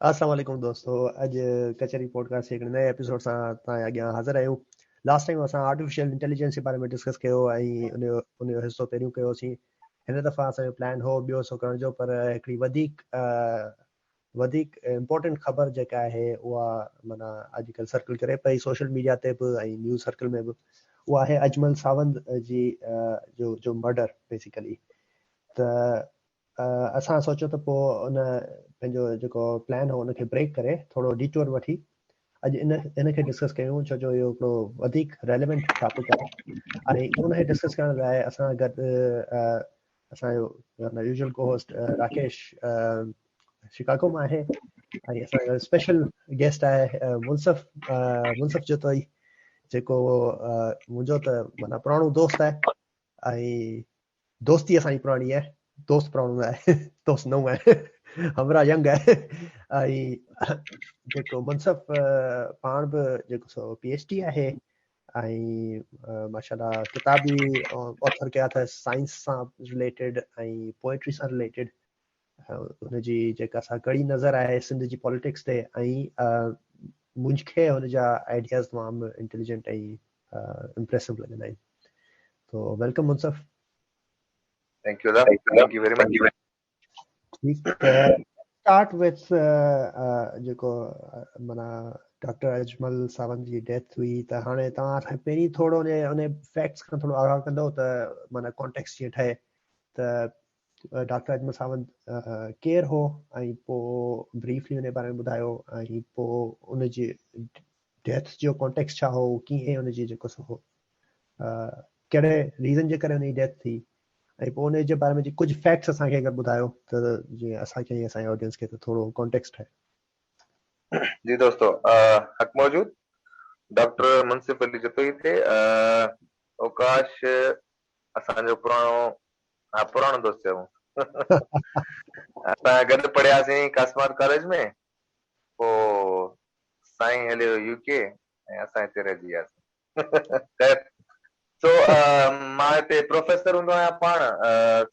السلام عليڪم دوستو اڄ ڪچهري پوڊڪاسٽ جي هڪڙي نئين ايپيسوڊ سان توهان جي اڳيان حاضر آهيون لاسٽ ٽائيم اسان آرٽيفيشل انٽيليجنس جي باري ۾ ڊسڪس ڪيو ۽ ان جو ان جو حصو پهريون ڪيوسين هن دفعه اسان جو پلان هو ٻيو حصو ڪرڻ جو پر هڪڙي وڌيڪ وڌيڪ امپورٽنٽ خبر جيڪا آهي اها معنيٰ اڄڪلهه سرڪل ڪري پئي سوشل ميڊيا تي به ۽ نيوز سرڪل ۾ به اها آهي اجمل ساوند جي جو جو مرڊر بيسيڪلي ته اسان سوچيو ته پوء ان پنهنجو جيڪو پلان هو ان کي بريڪ ڪري ٿورو ڊيٽور وٺي اڄ ان ان کي ڊسڪس ڪيون ڇو جو اهو هڪڙو وڌيڪ ريليونٽ ٽاپڪ آهي ۽ ان کي ڊسڪس ڪرڻ لاء اسان گڏ اسان جو يوزل ڪو هوسٽ راڪيش شڪاگو مان آهي ۽ اسان جو اسپيشل گيسٽ آهي منصف منصف جتوئي جيڪو منهنجو ته مانا پراڻو دوست آهي ۽ دوستي اسانجي پراڻي آهي دوست پراڻو نه آهي دوست نو آهي همراهه ينگ آهي ۽ جيڪو منصف پاڻ به جيڪو سو پي ايچ ڊي آهي ۽ ماشاءالله ڪتاب به آٿر ڪيا اٿس سائنس سان رليٽيڊ ۽ پوئٽري سان رليٽيڊ هن جي جيڪا سا ڪڙي نظر آهي سنڌ جي پاليٽڪس تي ۽ مونجھ کي هن جا آئيڊياز تمام انٽيليجنٽ ۽ امپريسو لڳندا آهن تو welcome Munsif thank you thank you very much ٺيڪ ته اسٽارٽ وٿ جيڪو مانا ڊاڪٽر اجمل صاحبن جي ڊيٿ هئي ته هاڻي توهان اسان پهرين ٿورو ان ان فيڪٽس کان ٿورو آگاهه ڪندو ته مانا ڪانٽيڪس جيئن ٺهي ته ڊاڪٽر اجمل صاحب ڪير هو ۽ پوء بريفلي ان باري ۾ ٻڌايو ۽ پوء ان جي ڊيٿ جو ڪانٽيڪس ڇا هو ڪيئن ان جي جيڪو سو هو ڪهڙي ريزن جي ڪري ان جي ڊيٿ ٿي ۽ پوء انهيء جي باري ۾ جي ڪجهه فيڪٽس اسان کي اگر ٻڌايو ته جيئن اسان کي ۽ اسان جي آڊينس کي ته ٿورو ڪانٽيڪس ٺهي. جي دوستو حق موجود ڊاڪٽر منصف علي جتوئي تي اوڪاش اسان جو پراڻو ها پراڻو دوست چئبو اسان گڏ پڙهياسين ڪاسمار ڪاليج ۾ پوء سائين هليو يو ڪي ۽ اسان هتي رهجي وياسين خير سو مان هتي پروفيسر هوندو آهيان پاڻ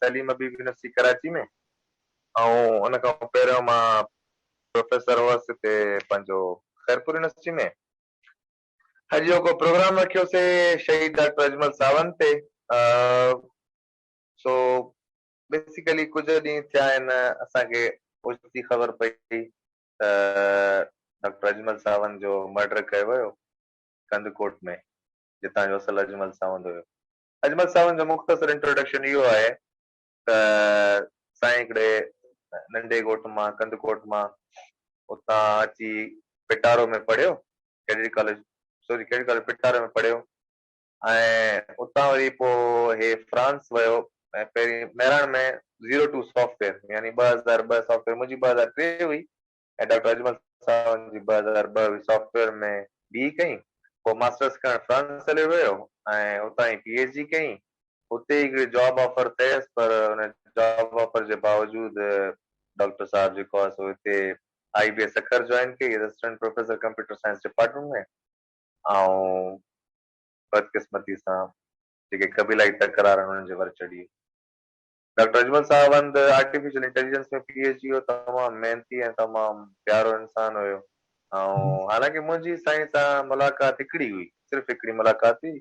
سليم حبيب يونيورسٽي ڪراچي ۾ ۽ ان کان پهريون مان پروفيسر هوس هتي پنهنجو خيرپور يونيورسٽي ۾ اڄ جو ڪو پروگرام رکيوسي شهيد ڊاڪٽر اجمل ساوند تي سو بيسيڪلي ڪجهه ڏينهن ٿيا آهن اسان کي اوچتي خبر پئي ته ڊاڪٽر اجمل ساوند جو مرڊر ڪيو ويو ڪنڌڪوٽ ۾، جتان جو اصل اجمل ساوند هيو. اجمل ساوند جو مختصر انٽروڊڪشن اهو آهي ته سائين هڪڙي ننڍي ڳوٺ مان ڪنڌڪوٽ مان اتان اچي پٽارو ۾ پڙهيو، cadet college sorry cadet college Petaro ۾ پڙهيو ۽ اتان وري پوء هي فرانس ويو ۽ پهرين مهراڻ ۾ زيرو ٽو سافٽويئر يعني ٻه هزار ٻه سافٽويئر منهنجي ٻه هزار ٽي هئي ۽ ڊاڪٽر اجمل ساوند جي ٻه هزار ٻه وي سافٽ ويئر ۾ بي اي ڪئي، پوء ماسٽرس ڪرڻ فرانس هليو ويو ۽ اتان ئي پي ايڇ ڊي ڪئي. اتي هڪڙي جاب آفر ٿيس پر ان جاب آفر جي باوجود ڊاڪٽر صاحب جيڪو آهي سو هتي I B A Sukkur join ڪئي as assistant professor computer science department ۾ ۽ بدقسمتي سان جيڪي قبيلائي تڪرار هن جي ور چڙهي ڊاڪٽر اجمل صاحب هنڌ artificial intelligence ۾ P H D هو تمام محنتي ۽ تمام پيارو انسان هيو ۽ حالانڪه منهنجي سائين سان ملاقات هڪڙي هئي صرف هڪڙي ملاقات هئي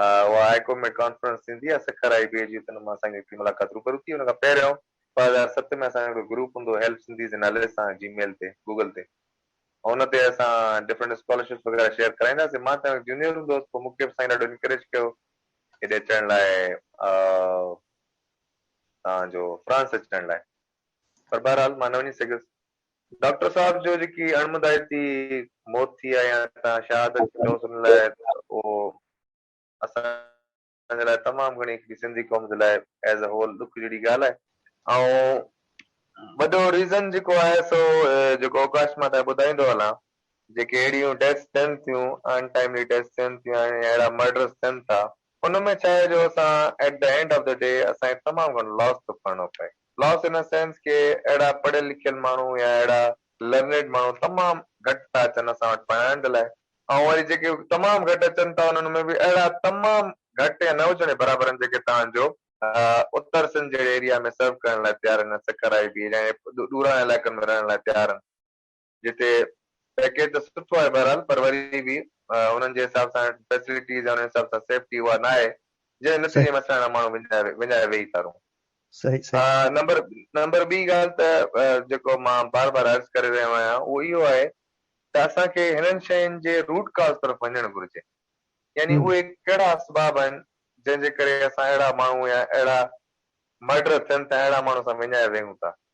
اها هاء ڪورٽ ۾ ڪانفرنس ٿيندي آهي سکر هاء بي جي تن مان اسان کي هڪڙي ملاقات روبرو ٿي ان کان پهريون ٻه هزار ست ۾ اسان جو هڪڙو گروپ هوندو هو هيلپ سنڌيز جي نالي سان جي ميل تي گوگل تي ان تي اسان ڊفرنٽ اسڪالرشپس وغيره شيئر ڪرائيندا سي مان تنهن جونيئر هوندو هوس پوء مون کي به سائين ڏاڍو انڪريج ڪيو هيڏي اچڻ لاء توهان جو فرانس اچڻ لاء پر بهرحال مان نه وڃي سگهيس. ڊاڪٽر صاحب جو جيڪي اڻمدائتي موت ٿي آهي يا توهان شهادت چئوس ان لاء اهو اسان جي لاء تمام گهڻي هڪڙي سنڌي قوم جي لاء ايز اي هول ڏک جهڙي ڳالهه آهي ۽ وڏو ريزن جيڪو آهي سو جيڪو اوڪاش مان تان ٻڌائيندو هلان جيڪي اهڙيون ڊيٿس ٿين ٿيون ان ٽائملي ڊيٿس ٿين ٿيون يا اهڙا مرڊرس ٿين ٿا ان ۾ ڇا آهي جو اسان At the end of the day اسان کي تمام گهڻو Loss ٿو کڻڻو پوي. Loss in a sense ڪي اهڙا پڙهيل لکيل ماڻهو يا اهڙا Learned ماڻهو تمام گهٽ ٿا اچن اسان وٽ پڙهائڻ جي لاء. ۽ وري جيڪي تمام گهٽ اچن ٿا انهن ۾ به اهڙا تمام گهٽ يا نه هجڻ جي برابر آهن جيڪي توهان جو اتر سنڌ جهڙي اريا ۾ Serve ڪرڻ لاء تيار آهن يا سکر آئي بي جهڙن ڏورانهن علائقن ۾ رهڻ لاء تيار آهن. جتي پيڪيج ته سٺو آهي بهرحال پر وري به انهن جي حساب سان فيسلٽيز يا انهن حساب سان سيفٽي اها نه آهي جنهن نتيجي ۾ اسان اهڙا ماڻهو وڃائي وڃائي ويهي ٿا رهون. صحيح صحيح. نمبر نمبر ٻي ڳالهه ته جيڪو مان بار بار عرض ڪري رهيو آهيان اهو اهو آهي ته اسان کي هنن شين جي روٽ ڪاز طرف وڃڻ گهرجي يعني اهي ڪهڙا اسباب آهن جنهن جي ڪري اسان اهڙا ماڻهو يا اهڙا مرڊر ٿين ٿا اهڙا ماڻهو اسان وڃائي ويهون ٿا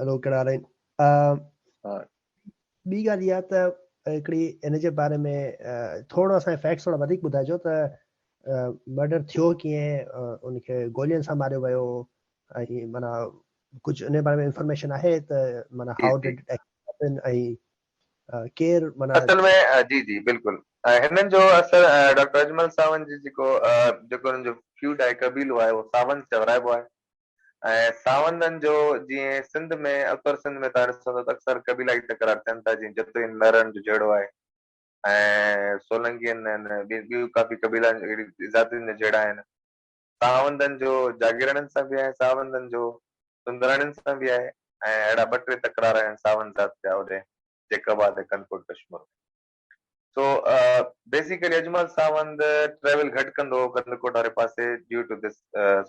هلو ڪهڙا حال آهن ٻي ڳالهه اها ته هڪڙي ان جي باري ۾ ٿورو اسان کي فيڪٽس ٿورا وڌيڪ ٻڌائجو ته مرڊر ٿيو ڪيئن ان کي گولين سان ماريو ويو ۽ مانا ڪجهه ان باري ۾ انفارميشن آهي ته مانا هاء ڊيڊ ۽ ڪير مانا اصل ۾ جي جي بلڪل هنن جو اثر ڊاڪٽر اجمل ساوند جي جيڪو جيڪو هنن جو فيوڊ آهي قبيلو آهي اهو ساوند چورائبو آهي ۽ ساوندن جو جيئن سنڌ ۾ اتر سنڌ ۾ توهان ڏسندو ته اڪثر قبيلائي تڪرار ٿين ٿا جيئن جتوئين مهراڻ جو جهيڙو آهي ۽ سولنگين ۽ ٻيون ڪافي قبيلا اهڙي ذاتين جا جهيڙا آهن ساوندن جو جاگيراڻين سان به آهي ساوندن جو سندراڻين سان به آهي ۽ اهڙا ٻه ٽي تڪرار آهن ساوند ذات جا هوڏي جيڪب آباد ۽ ڪنڪوٽ ڪشمور ۾. سو بيسيڪلي اجمل ساوند ٽريول گهٽ ڪندو هو ڪنڌڪوٽ واري پاسي due to this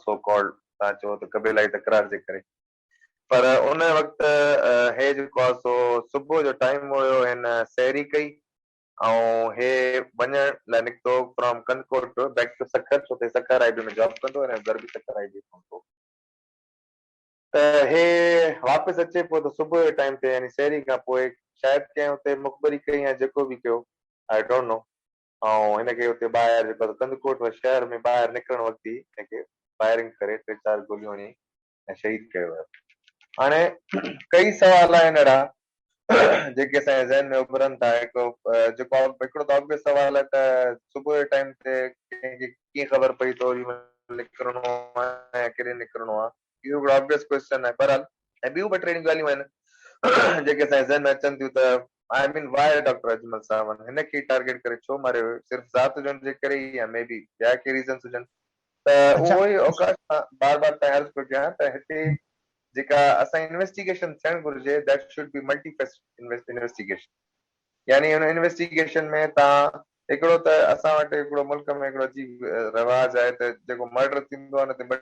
so called تان چو ته قبيلائي تڪرار جي ڪري پر ان وقت هي جيڪو آ سو صبح جو ٽائيم هيو هن سيري ڪئي ۽ هي وڃڻ لاء نڪتو from Kandhkot to back to Sukkur ڇو ته سکر آئي بي ۾ جاب ڪندو هو ۽ گربي سکر آئي بي ۾ هوندو ته هي واپس اچي پيو ته صبح جي ٽائيم تي يعني سحري کان پوء شايد ڪنهن اتي مخبري ڪئي يا جيڪو به ڪيو آء ڊونٽ نو ۽ هن کي اتي ٻاهر جيڪو آسان ڪنڌڪوٽ شهر ۾ ٻاهر نڪرڻ وقت ئي هن کي فائرنگ ڪري ٽي چار گوليون هڻي ۽ شهيد ڪيو ويو. هاڻي ڪئي سوال آهن اهڙا جيڪي اسان جي ذهن ۾ اڀرن ٿا هڪ جيڪو هڪڙو ته obvious سوال آهي ته صبح جي ٽائيم تي ڪنهن کي ڪيئن خبر پئي ته اوري مهل نڪرڻو آهي يا ڪيڏي نڪرڻو آهي اهو هڪڙو obvious question آهي بهرحال ۽ ٻيون ٻه ٽي اهڙيون ڳالهيون آهن جيڪي اسان جي ذهن ۾ اچن ٿيون ته I mean why doctor Ajmal Sawand هن کي ئي ٽارگيٽ ڪري ڇو ماريو ويو صرف ذات هجڻ جي ڪري ئي يا مي بي ٻيا ڪي ريزنس هجن ته اهو ئي اوقاش سان بار بار تائين عرض پيو ڪيان ته هتي جيڪا اسان جي انويسٽيگيشن ٿيڻ گهرجي that should be multifaceted investigation يعني ان انويسٽيگيشن ۾ تان هڪڙو ته اسان وٽ هڪڙو ملڪ ۾ هڪڙو عجيب رواج آهي ته جيڪو مرڊر ٿيندو آهي نه ته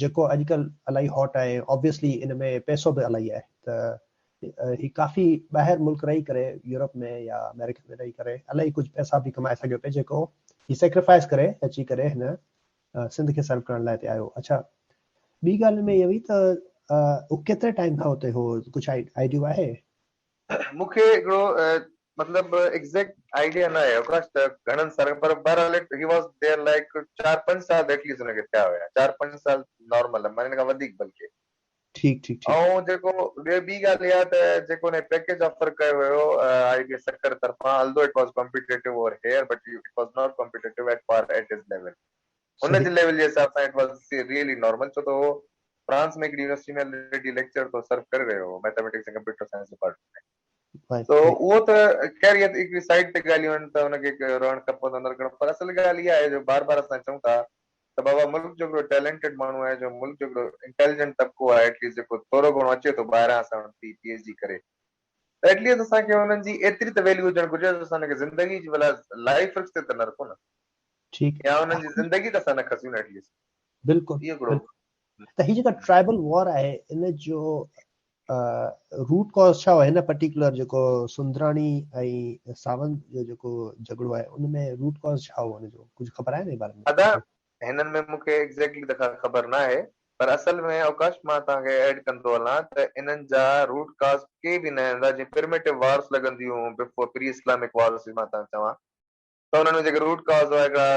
جيڪو اڄڪلھ الاھي ھاٽ آھي Obviously ان ۾ پئسو به الاھي آھي ته ھي ڪافي ٻاھر ملڪ رھي ڪري يورپ ۾ يا آمريڪا ۾ رھي ڪري الاھي ڪجھ پئسا به ڪمائي سگھيو پئي جيڪو ھي Sacrifice ڪري اچي ڪري ھن سنڌ کي Serve ڪرڻ لاء ھتي آيو اڇا ٻي ڳالھ ھن ۾ اھا ھئي ته ھو ڪيتري ٽائيم کان اتي ھو ڪجھ آئڊيو آھي. مون کي هڪڙو مطلب ايگزيڪٽ آئيڊيا ناهي اوڪاش ته گهڻن سالن پر بهرحال it he was there like چار پنج سال ته ائٽليسٽ هن کي ٿيا هيا چار پنج سال نارمل آهي معني ان کان وڌيڪ بلڪه ٺيڪ ٺيڪ ٺيڪ ۽ جيڪو ٻيو ٻي ڳالهه اها ته جيڪو هن کي پيڪيج آفر ڪيو ويو آئي بي سکر طرفان although it was competitive over here but it was not competitive at par at his level هن جي ليول جي حساب سان اٽ واز ريئلي نارمل ڇو ته هو فرانس ۾ هڪڙي يونيورسٽي ۾ الريڊي ليڪچرر طور سرو ڪري رهيو هو ميٿميٽڪس ۽ ڪمپيوٽر سائنس ڊپارٽمينٽ ۾ سو اهو ته خير هي هڪڙي سائيڊ تي ڳالهيون آهن ته هن کي رهڻ کپندو نه رکڻ پر اصل ڳالهه اها آهي جو بار بار اسان چئون ٿا ته بابا ملڪ جو هڪڙو ٽيلنٽيڊ ماڻهو آهي جو ملڪ جو هڪڙو انٽيليجنٽ طبقو آهي ايٽليسٽ جيڪو ٿورو گهڻو اچي ٿو ٻاهران اسان وٽ پي ايڇ ڊي ڪري ايٽ ليسٽ اسان کي انهن جي ايتري ته ويليو هجڻ گهرجي جو اسان انهن کي زندگي جي بلا لائيف رسڪ تي ته نه رکون نه ٺيڪ يا انهن جي زندگي ته اسان نه کسيون نه ايٽ ليسٽ بلڪل اهو هڪڙو بلڪل ته هي جيڪا ٽرائبل وار آهي ان جو روٽ ڪاز ڇا هو هن پرٽيڪولر جيڪو سندراڻي ۽ ساوند جو جيڪو جهڳڙو آهي ان ۾ روٽ ڪاز ڇا هو ان جو ڪجهه خبر آهي ان جي باري ۾ ادا هنن ۾ مون کي ايگزيڪٽلي ته ڪا خبر ناهي پر اصل ۾ اوڪاش مان توهان کي ايڊ ڪندو هلان ته انهن جا روٽ ڪاز ڪي به نه هوندا جيئن پرميٽو وارس لڳنديون بفور پري اسلامڪ وارس جي مان توهان کي چوان ته انهن ۾ جيڪي روٽ ڪاز هئا هڪڙا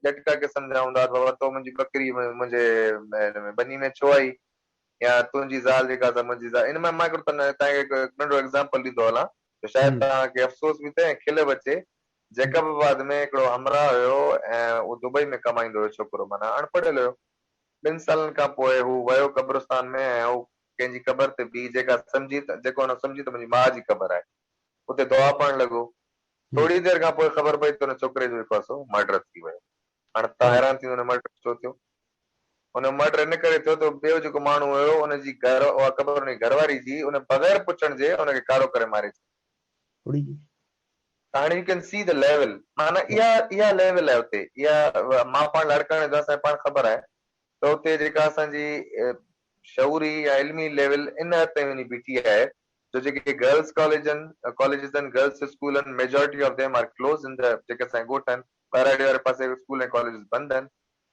ڄٽڪا قسم جا هوندا ته بابا تو منهنجي ٻڪري منهنجي هن ۾ ٻني ۾ ڇو آئي يا تنهنجي زال جيڪا سا منهنجي زال ان مان مان هڪڙو توهان کي ننڍڙو ايگزامپل ڏيندو هلان ته شايد توهان کي افسوس به ٿئي ۽ کل به اچي. جيڪب آباد ۾ هڪڙو همراهه هيو ۽ اهو دبئي ۾ ڪمائيندو هيو ڇوڪرو معنيٰ اڻ پڙهيل هيو. ٻن سالن کان پوء هو ويو قبرستان ۾ ۽ هو ڪنهن جي قبر تي بيهي جيڪا سمجهي ته جيڪو هن سمجهي ته منهنجي ماء جي قبر آهي اتي دعا پڙهڻ لڳو. ٿورڙي دير کان پوء خبر پئي ته ان ڇوڪري جو جيڪو آسو مرڊر ٿي ويو. هاڻي توهان حيران ٿيندو ته مڙڊر ڇو ٿيو؟ ان مرڊر ان ڪري ٿيو ته ٻيو جيڪو ماڻهو هيو ان جي گهر اها قبر ان جي گهر واري جي ان بغير پڇڻ جي ان کي ڪارو ڪري ماري ڇڏيو. ڪھڙي جي؟ هاڻي you can see the level معنيٰ اها اها ليول آهي اتي اها مان پاڻ لاڙڪاڻي جو اسان کي پاڻ خبر آهي ته اتي جيڪا اسان جي شعوري يا علمي ليول ان حد تائين وڃي بيٺي آهي جو جيڪي گرلس ڪاليجن ڪاليجز آهن گرلس اسڪول آهن majority of them are closed ان جيڪي اسان جي ڳوٺ آهن ٻهراڙي واري پاسي اسڪول ۽ ڪاليجز بند آهن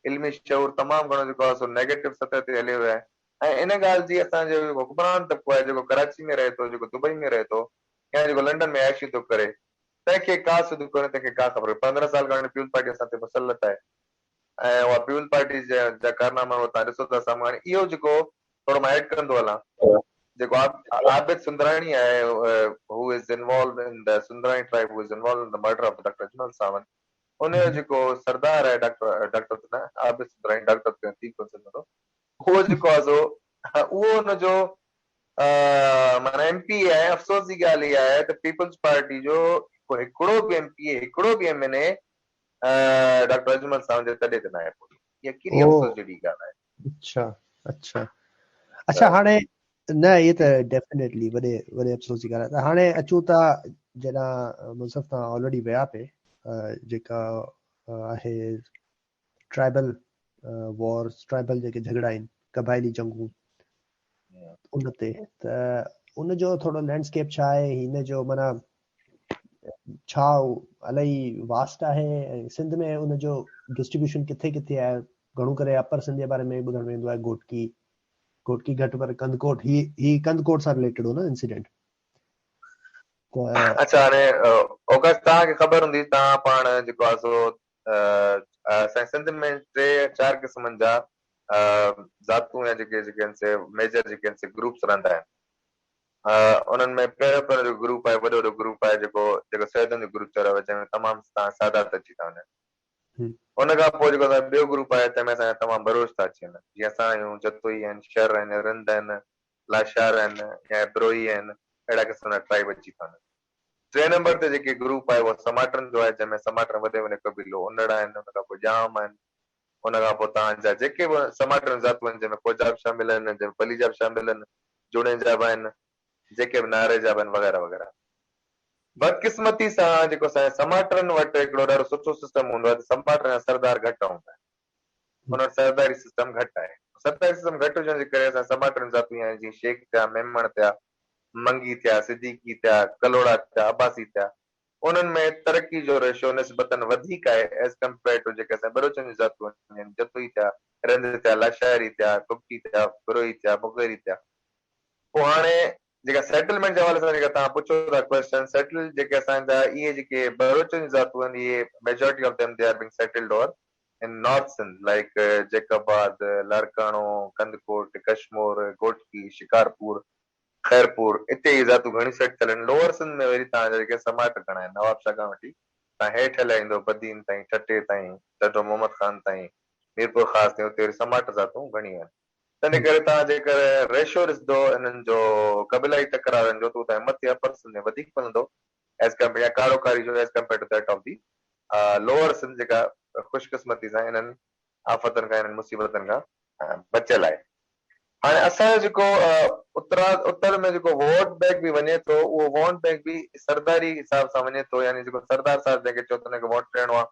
علمي شعور تمام گهڻو جيڪو آهي سو نيگيٽو سطح تي هليو ويو آهي ۽ ان ڳالهه جي اسان جو جيڪو حڪمران طبقو آهي جيڪو ڪراچي ۾ رهي ٿو جيڪو دبئي ۾ رهي ٿو يا جيڪو لنڊن ۾ عياشيون ٿو ڪري تنهن کي ڪا سڌ ڪونهي تنهن کي ڪا خبر ڪونهي پندرهن سال کان پيپلز پارٽي اسان تي مسلط آهي ۽ اها پيپلز پارٽي جا ڪارناما اهي توهان ڏسو ٿا سامهون هاڻي اهو جيڪو ٿورو مان ايڊ ڪندو هلان جيڪو عابد سندراڻي آهي هو is involved in the Sundrani tribe هو is involved in the murder of doctor Ajmal Sawand انهيء جو جيڪو سردار آهي ڊاڪٽر، ڊاڪٽر ته نه، آء به سندر ۽ ڊاڪٽر ته ٿي ڪونه سگهندو، اهو جيڪو آهي سو اهو ان جو معنيٰ ايم پي اي آهي. افسوس جي ڳالهه اها آهي ته پيپلز پارٽي جو ڪو هڪڙو به ايم پي اي، هڪڙو به M N A doctor Ajmal Sawand جي تڏي تي ناهي پهتو. يقيني افسوس جهڙي ڳالهه آهي. اچھا اچھا اچھا هاڻي نه هي ته ڊيفينيٽلي وڏي وڏي افسوس جي ڳالهه هاڻي اچون ٿا جڏا منصف تان آلريڊي ويا پي جيڪا آهي ٽرائبل وار ٽرائبل جيڪي جھگڙا آهن قبائلي جنگون ان تي ته ان جو ٿورو لينڊسڪيپ ڇا آهي هن جو معنی ڇا هو الاهي واسٽ آهي ۽ سنڌ ۾ ان جو ڊسٽريبيوشن ڪٿي ڪٿي آهي گهڻو ڪري اپر سنڌ جي باري ۾ ٻڌڻ ۾ ايندو آهي گهوٽڪي گهوٽڪي گهٽ پر ڪنڌڪوٽ هي هي ڪنڌڪوٽ سان رليٽيڊ هو نه انسيڊنٽ اچھا هاڻي اوگسٽ تان کي خبر هوندي تان پاڻ جيڪو آ سو اسان سنڌ ۾ ٽي چار قسمن جا ذاتون يا جيڪي جيڪي ان سي ميجر جيڪي ان سي گروپس رهندا آهن ها انهن ۾ پيروڪارن جو گروپ آهي وڏو وڏو گروپ آهي جيڪو جيڪو سيدن جو گروپ چيو ويو آهي جنهن ۾ تمام تان سادات اچي ٿا وڃن ان کان پوء جيڪو اسان جو ٻيو گروپ آهي تنهن ۾ اسان جا تمام بروچ ٿا اچي وڃن جيئن اسان آهيون جتوئي آهن شر آهن رند آهن لاشار آهن يا بروهي آهن اهڙا قسم جا ٽرائيب اچي ٿا وڃن ٽئين نمبر تي جيڪي گروپ آهي اهو سماٽرن جو آهي جنهن ۾ سماٽرن وڏي ۾ وڏي قبيلو انڙ آهن ان کان پوء ڄام آهن ان کان پوء تان جا جيڪي به سماٽرن ذاتون آهن، جن ۾ ڪوجا به شامل آهن، جن ۾ پليجا به شامل آهن، جوڻيجا به آهن، جيڪي به ناريجا به آهن وغيره وغيره. بدقسمتي سان جيڪو اسان جي سماٽرن وٽ هڪڙو ڏاڍو سٺو سسٽم هوندو آهي ته سماٽرن جا سردار گهٽ هوندا آهن. انهن وٽ سرداري سسٽم گهٽ آهي. سرداري سسٽم گهٽ هجڻ جي ڪري اسان جي سماٽرن ذاتون اهي آهن جيئن شيخ ٿيا، ميمڻ ٿيا، منگي ٿيا، صديقي ٿيا، ڪلهوڙا ٿيا، عباسي ٿيا. انهن ۾ ترقي جو ريشو نسبتاً وڌيڪ آهي as compared to جيڪي اسان ٻروچن جون ذاتون آهن، جتوئي ٿيا، رند ٿيا، لاشاري ٿيا، ڪٻٽي ٿيا، بروهي ٿيا، مغيري ٿيا. پوء هاڻي جيڪا سيٽلمينٽ جي حوالي سان جيڪا توهان پڇو ٿا ڪويسچن سيٽلڊ جيڪي اسان جا اهي جيڪي ٻروچن جون ذاتون آهن اهي majority of them they are being settled over in north Sindh like Jacobabad, Larkana, Kandhkot, Kashmore, Ghotki, Shikarpur, Khairpur, اتي ئي ذاتون گهڻيون سيٽ ٿيل آهن. لوئر سنڌ ۾ وري توهان جا جيڪي سماٽ گهڻا آهن، نوابشاهه کان وٺي تان هيٺ هليا ايندو بدين تائين، ٺٽي تائين، ڍڍو محمد خان تائين، ميرپورخاص تائين، اتي وري سماٽ ذاتون گهڻيون آهن. تنهن ڪري توهان جيڪر ريشو ڏسندو انهن جو قبيلائي تڪرارن جو ته هو توهان مٿي اپر سنڌ ۾ وڌيڪ ملندو ايز ڪمپيئر يا ڪارو ڪاري جو as compare to that of the lower Sindh جيڪا خوشقسمتي سان انهن آفتن کان انهن مصيبتن کان بچيل آهي هاڻي اسان جو جيڪو اترا اتر ۾ جيڪو ووٽ بينڪ به وڃي ٿو اهو ووٽ بينڪ به سرداري حساب سان وڃي ٿو يعني جيڪو سردار صاحب جنهن کي چئو ته ان کي ووٽ ڏيڻو آهي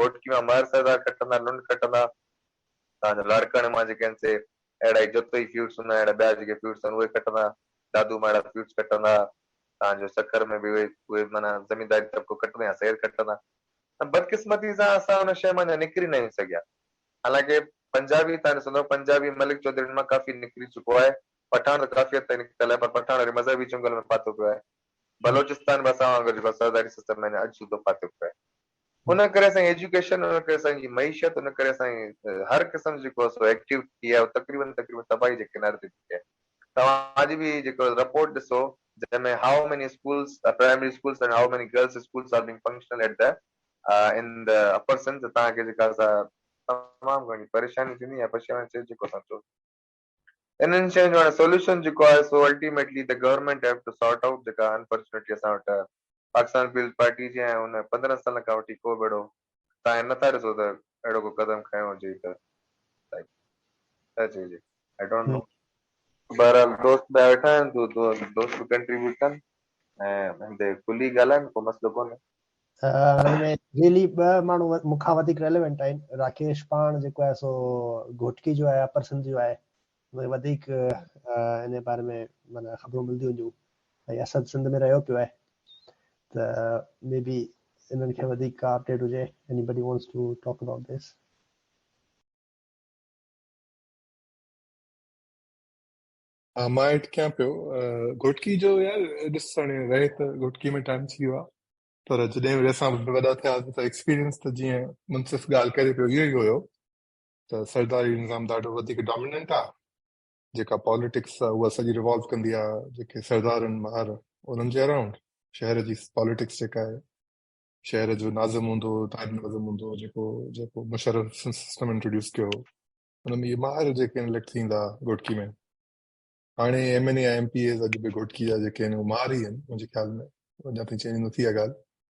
گهوٽڪي مان مهر سردار کٽندا لنڊ کٽندا تان جو لاڙڪاڻي مان جيڪي آهن سي اهڙا ئي جتوئي فيوڊس هوندا اهڙا ٻيا جيڪي فيوڊس آهن اهي کٽندا دادو مان اهڙا فيوڊس کٽندا تان جو سکر ۾ به اهي اهي معنيٰ زمينداري طبقو کٽندا يا سير کٽندا ته بدقسمتي سان اسان ان شيء مان اڃا نڪري ناهيون سگهيا. حالانڪه پنجابي تان ڏسندو، پنجابي ملڪ چوڌرين مان ڪافي نڪري چڪو آهي، پٺاڻ ته ڪافي حد تائين نڪتل آهي، پر پٺاڻ وري مذهبي چنگل ۾ ڦاٿو پيو آهي. بلوچستان به اسان وانگر جيڪو آهي سرداري سسٽم ۾ اڃا اڄ سوڌو ڦاٿو پيو آهي. ان ڪري اسان جي ايجوڪيشن، ان ڪري اسان جي معيشت، ان ڪري اسان جي هر قسم جو جيڪو سو ايڪٽيوٽي آهي، اهو تقريبن تقريبن تباهي جي ڪناري تي بيٺي آهي. توهان اڄ به جيڪو رپورٽ ڏسو جنهن ۾ How many schools, primary schools ۽ How many girls schools are being functional at the in the upper Sindh ته توهان کي جيڪا سا تمام گهڻي پريشاني ٿيندي يا پشيماني ٿيندي جيڪو اسان چئون انهن شين جو هاڻي سوليوشن جيڪو آهي سو ultimately the government have to sort out جيڪا انفارچونيٽلي اسان وٽ پاڪستان پيپلز پارٽي جي ۽ ان پندرهن سالن کان وٺي ڪو به اهڙو توهان هي نٿا ڏسو ته اهڙو ڪو قدم کنيو هجي ته ڇا چئجي آئي ڊونٽ نو بهرحال دوست ٻيا ويٺا آهن دو دو دوست به ڪنٽريبيوٽ ڪن ۽ هندي کلي ڳالهائن ڪو مسئلو ڪونهي هن ۾ ريلي ٻه ماڻهو مون کان وڌيڪ ريليونٽ آهن راڪيش پاڻ جيڪو آهي سو گهوٽڪي جو آهي اپر سنڌ جو آهي ۾ وڌيڪ انهيء باري ۾ معنيٰ خبرون ملنديون هونديون ۽ اسد سنڌ ۾ رهيو پيو آهي ته مي بي انهن کي وڌيڪ ڪا اپڊيٽ هجي anybody wants to talk about this. ها مان ايڊ ڪيان پيو گهوٽڪي جو يار ڏس هاڻي رهي ته گهوٽڪي ۾ ٽائيم ٿي ويو آهي پر جڏهن به اسان وڏا ٿياسين ته ايڪسپيرينس ته جيئن منصف ڳالهه ڪري پيو اهو ئي هيو ته سرداري نظام ڏاڍو وڌيڪ ڊاميننٽ آ، جيڪا پاليٽڪس آ اها سڄي ريوالو ڪندي آ جيڪي سردار آهن مهر انهن جي اراونڊ، شهر جي پاليٽڪس جيڪا آهي شهر جو ناظم هوندو هو نائب ناظم هوندو هو جيڪو جيڪو مشرف سسٽم انٽروڊيوس ڪيو هو ان ۾ اهي مهر جيڪي اليڪٽ ٿيندا گهوٽڪي ۾ هاڻي M N A M P As اڄ به گهوٽڪي جا جيڪي آهن اهي مهر ئي آهن منهنجي خيال ۾ اڃا تائين چينج نه ٿي آ ڳالهه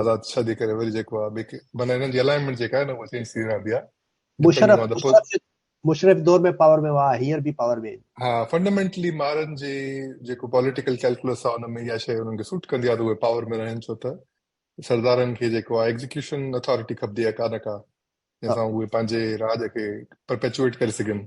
آزاد شاهه جي ڪري وري جيڪو آهي معنيٰ هنن جي الائنمينٽ جيڪا آهي نه اها چينج ٿي رهندي آهي مشرف مشرف دور ۾ پاور ۾ هئا هيئر به پاور ۾ ها فنڊامينٽلي مارن جي جيڪو پوليٽيڪل ڪيلڪولس آهي ان ۾ اها شيء انهن کي سوٽ ڪندي آهي ته اهي پاور ۾ رهن ڇو ته سردارن کي جيڪو آهي ايگزيڪيوشن اٿارٽي کپندي آهي ڪا نه ڪا جنهن سان اهي پنهنجي راڄ کي پرپيچوئيٽ ڪري سگهن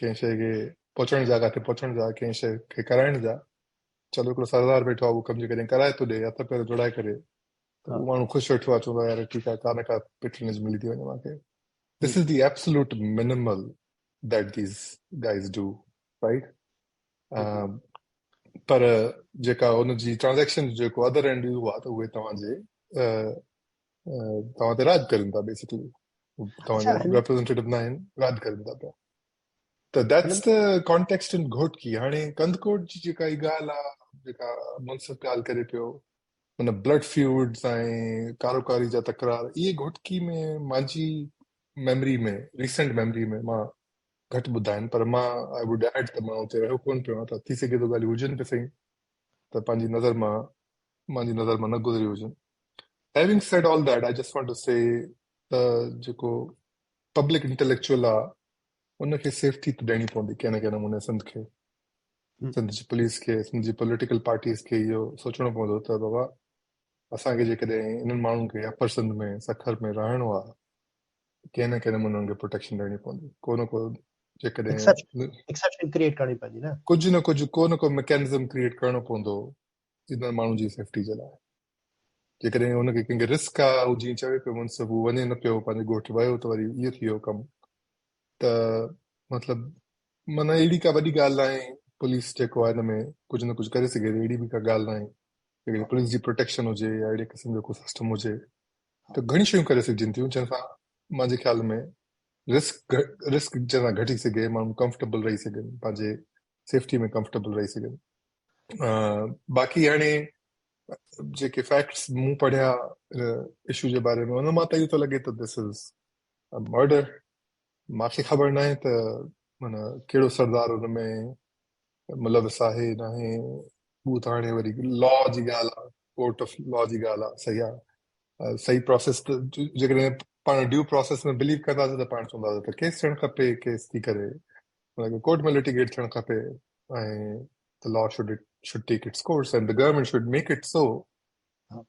ڪنهن شيء کي پهچڻ جا ڪاٿي پهچڻ جا ڪنهن شيء کي ڪرائڻ جا چلو هڪڙو سردار ويٺو آهي اهو ڪم جي ڪڏهن ڪرائي ٿو ڏي هٿ پير جوڙائي ڪري ته اهو ماڻهو خوش ويٺو آهي چوندو آهي يار ٺيڪ آهي ڪا نه ڪا پيٽرنيج ملي ٿي وڃي مان کي this is the absolute minimal that these guys do right پر جيڪا ان جي ٽرانزيڪشن جيڪو ادر اينڊ اهو آهي ته اهي توهان جي توهان تي راڄ ڪرين ٿا بيسڪلي توهان جا ريپريزنٽيٽو نه آهن راڄ ڪرين ٿا پيا ته ديٽس ته ڪانٽيڪسٽ ان گهوٽڪي هاڻي ڪنڌڪوٽ جي جيڪا هي ڳالهه آ جيڪا منصف ڳالهه ڪري پيو ان بلڊ فيوڊز ۽ ڪاروڪاري جا تڪرار اهي گهوٽڪي ۾ مانجي ميموري ۾ ريسنٽ ميموري ۾ مان گهٽ ٻڌا آهن پر مان آء ووڊ ايڊ ته مان اتي رهيو ڪون پيو آهيان ته ٿي سگهي ٿو ڳالهيون هجن به سهي ته پنهنجي نظر مان مانجي نظر مان نه گذريون هجن Having said all that, I just want to say ته جيڪو پبلڪ انٽيليڪچوئل آ ان کي سيفٽي ته ڏيڻي پوندي ڪنهن نه ڪنهن نموني سنڌ کي سنڌ جي پوليس کي سنڌ جي پوليٽيڪل پارٽيز کي اهو سوچڻو پوندو ته بابا اسان کي جيڪڏهن انهن ماڻهن کي اپر سنڌ ۾ سکر ۾ رهڻو آ ڪنهن نه ڪنهن نموني انهن کي پروٽيڪشن ڏيڻي پوندي ڪو نه ڪو جيڪڏهن ڪجهه نه ڪجهه ڪو نه ڪو ميڪانزم ڪريٽ ڪرڻو پوندو جيتوڻيڪ ماڻهن جي سيفٽي جي لاء جيڪڏهن هن کي ڪنهن کي رسڪ آ هو جيئن چوي پيو منصف هو وڃي نه پيو پنهنجي ڳوٺ ويو ته وري اهو ٿي ويو ڪم ته مطلب معنی اهڙي ڪا وڏي ڳالهه ناهي پوليس جيڪو آهي هن ۾ ڪجهه نه ڪجهه ڪري سگهي ٿي اهڙي به ڪا ڳالهه ناهي جيڪڏهن پوليس جي پروٽيڪشن هجي يا اهڙي قسم جو ڪو سسٽم هجي ته گهڻي شيون ڪري سگهجن ٿيون جنهن سان مانجي خيال ۾ رسڪ رسڪ جنهن سان گهٽي سگهي ماڻهو ڪمفرٽيبل رهي سگهن پنهنجي سيفٽي ۾ ڪمفرٽيبل رهي سگهن باقي هاڻي جيڪي فيڪٽس مون پڙهيا ان اشو جي باري ۾ ان مان ته اهو ٿو لڳي ته دس از ا مرڊر مان کي خبر ناهي ته مانا ڪهڙو سردار ان ۾ ملوث آهي ناهي هو ته هاڻي وري لا جي ڳالهه آهي ڪورٽ آف لا جي ڳالهه آهي صحيح آهي صحيح پروسيس جيڪڏهن پاڻ ڊيو پروسيس ۾ بليو ڪنداسين ته پاڻ چونداسين ته ڪيس ٿيڻ کپي ڪيس ٿي ڪري هن کي ڪورٽ ۾ لٽيگيٽ ٿيڻ کپي ۽ the law should it should take its course and the government should make it so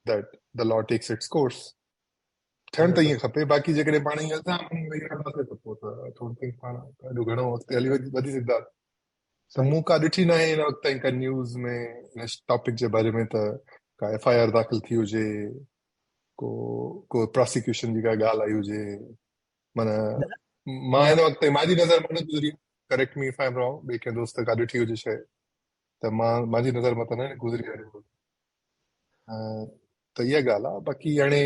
that the law takes its course ٿيڻ ته ائين کپي باقي جيڪڏهن پاڻ ائين الزام ويهي رهنداسي ته پوء ته ٿورو ٿي پاڻ ڏاڍو گهڻو اڳتي هلي وڌي سگهندا ته مون ڪا ڏٺي نه آهي هن وقت تائين ڪا نيوز ۾ هن ٽاپڪ جي باري ۾ ته ڪا ايف آء آر داخل ٿي هجي ڪو ڪو پراسيڪيوشن جي ڪا ڳالهه آئي هجي معنيٰ مان هن وقت تائين مانجي نظر مان نه گذري correct me if I am wrong ٻئي ڪنهن دوست گڏ ٺهي هجي شايد ته مان مانجي نظر مان ته نه گذري آهي ته اها ڳالهه آهي باقي هاڻي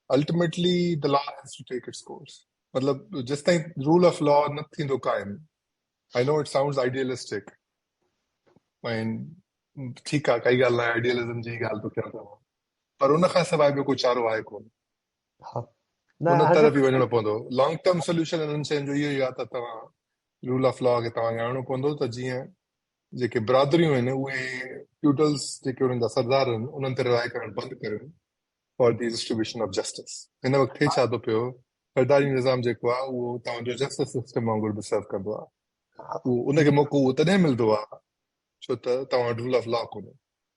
ultimately the law has to take its course مطلب جيستائين رول آف لا نه ٿيندو قائم I know it sounds idealistic ۽ ٺيڪ آهي ڪائي ڳالهه نه آئيڊيلزم جي ڳالهه ٿو ڪيان پر ان کان سواء ٻيو ڪو چارو آهي ڪونه ان طرف ئي وڃڻو پوندو لانگ ٽرم سوليوشن انهن شين جو اهو ئي آهي ته توهان رول آف لا کي توهان کي آڻڻو پوندو ته جيئن جيڪي برادريون آهن اهي فيوڊلز جيڪي انهن جا سردار آهن انهن تي رهائي ڪرڻ بند ڪريون for the distribution of justice هن وقت ٿي ڇا ٿو پيو سرداري نظام جيڪو آهي اهو توهان جو جسٽس سسٽم وانگر به سرو ڪندو آهي ان کي موقعو تڏهن ملندو آهي ڇو ته توهان رول آف لا ڪونهي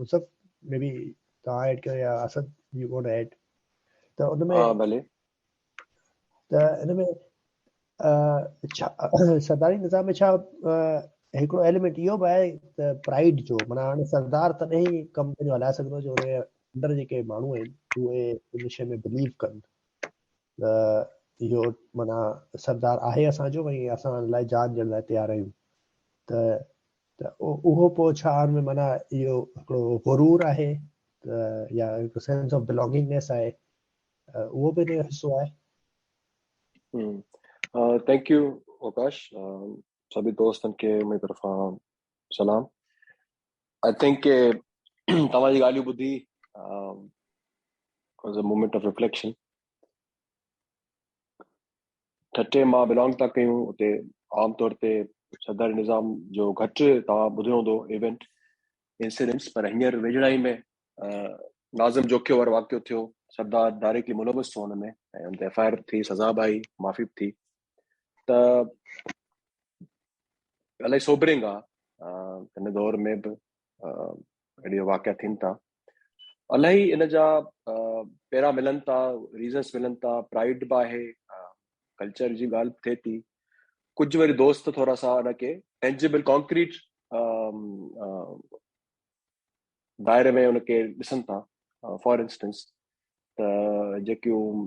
مصحف ۾ به توهان ايڊ ڪيو يا اسد يو وانٽ ايڊ ته ان ۾ ڀلي ته ان ۾ سرداري نظام ۾ ڇا هڪڙو ايليمنٽ اهو به آهي ته پرائيڊ جو معنی هاڻي سردار تڏهن ئي ڪم پنهنجو هلائي سگهندو جو ان اندر جيڪي ماڻهو آهن اهي ان شي ۾ بليو ڪن ته اهو معنيٰ سردار آهي اسان جو ۽ اسان لاء جان ڏيڻ لاء تيار آهيون ته ته اهو پوء ڇا ان ۾ معنيٰ اهو هڪڙو غرور آهي ته يا هڪ سينس آف بلانگنگنيس آهي اهو به ان جو حصو آهي ٿينڪ يو اوڪاش سڀ دوستن کي منهنجي طرفان سلام آئي ٿنڪ ڪي توهان جي ڳالهيون ٻڌي was a moment of reflection ٺٽي مان بلانگ تا ڪيون اتي عام طور تي سردار نظام جو گهٽ توهان ٻڌو هوندو ايونٽ انسيڊنٽس پر هينئر ويجهڙائي ۾ ناظم جوکيو وارو واقعو ٿيو سردار ڊائريڪٽلي ملوث ٿيو ان ۾ ۽ ان تي ايف آء آر ٿي سزا به آئي معافي به ٿي ته الائي سوبرنگ آ ان دور ۾ به اهڙي واقعا ٿين ٿا الائي ان جا پيرا ملن ٿا ريزنس ملن ٿا پرائڊ به آهي ڪلچر جي ڳالهه به ٿئي ٿي ڪجهه وري دوست ٿورا سا ان کي ٽينجبل ڪانڪريٽ دائري ۾ ان کي ڏسن ٿا فار انسٽنس ته جيڪيون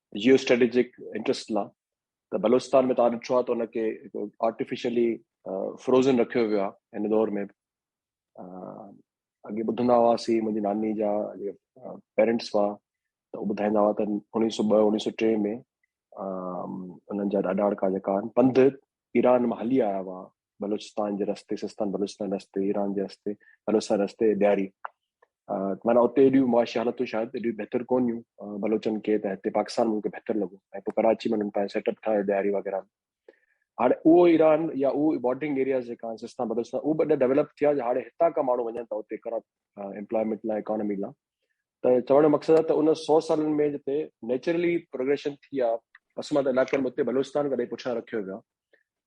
جيو اسٽريٽجڪ انٽرسٽ لا ته بلوچستان ۾ توهان ڏٺو آهي ته ان کي آرٽيفيشلي فروزن رکيو ويو آهي هن دور ۾ اڳي ٻڌندا هئاسين منهنجي ناني جا پيرنٽس هئا ته هو ٻڌائيندا هئا ته اڻيهه سؤ ٻه اڻيهه سؤ ٽي ۾ انهن جا ڏاڏاڙڪا جيڪا آهن پنڌ ايران مان هلي آيا هئا بلوچستان جي رستي سستان بلوچستان رستي ايران جي رستي بلوچستان رستي ڏياري مانا اتي ايڏيون معاشي حالتون شايد ايڏيون بهتر ڪون هيون بلوچن کي ته هتي پاڪستان ملڪ بهتر لڳو ۽ پوء ڪراچي ۾ انهن پنهنجو سيٽ اپ ٺاهيو ڏياري وغيرہ ۾ هاڻي اهو ايران يا اهو بارڊرنگ ايرياز جيڪا آهن سستان بلوچستان اهو به ڏاڍا ڊيولپ ٿيا جو هاڻي هتان کان ماڻهو وڃن ٿا اتي ڪرپ امپلائمينٽ لاء اڪانومي لاء ته چوڻ جو مقصد آهي ته ان سؤ سالن ۾ جتي نيچرلي پروگريشن ٿي آهي پسمانده علائقن ۾ اتي بلوچستان ڪڏهن پٺيان رکيو ويو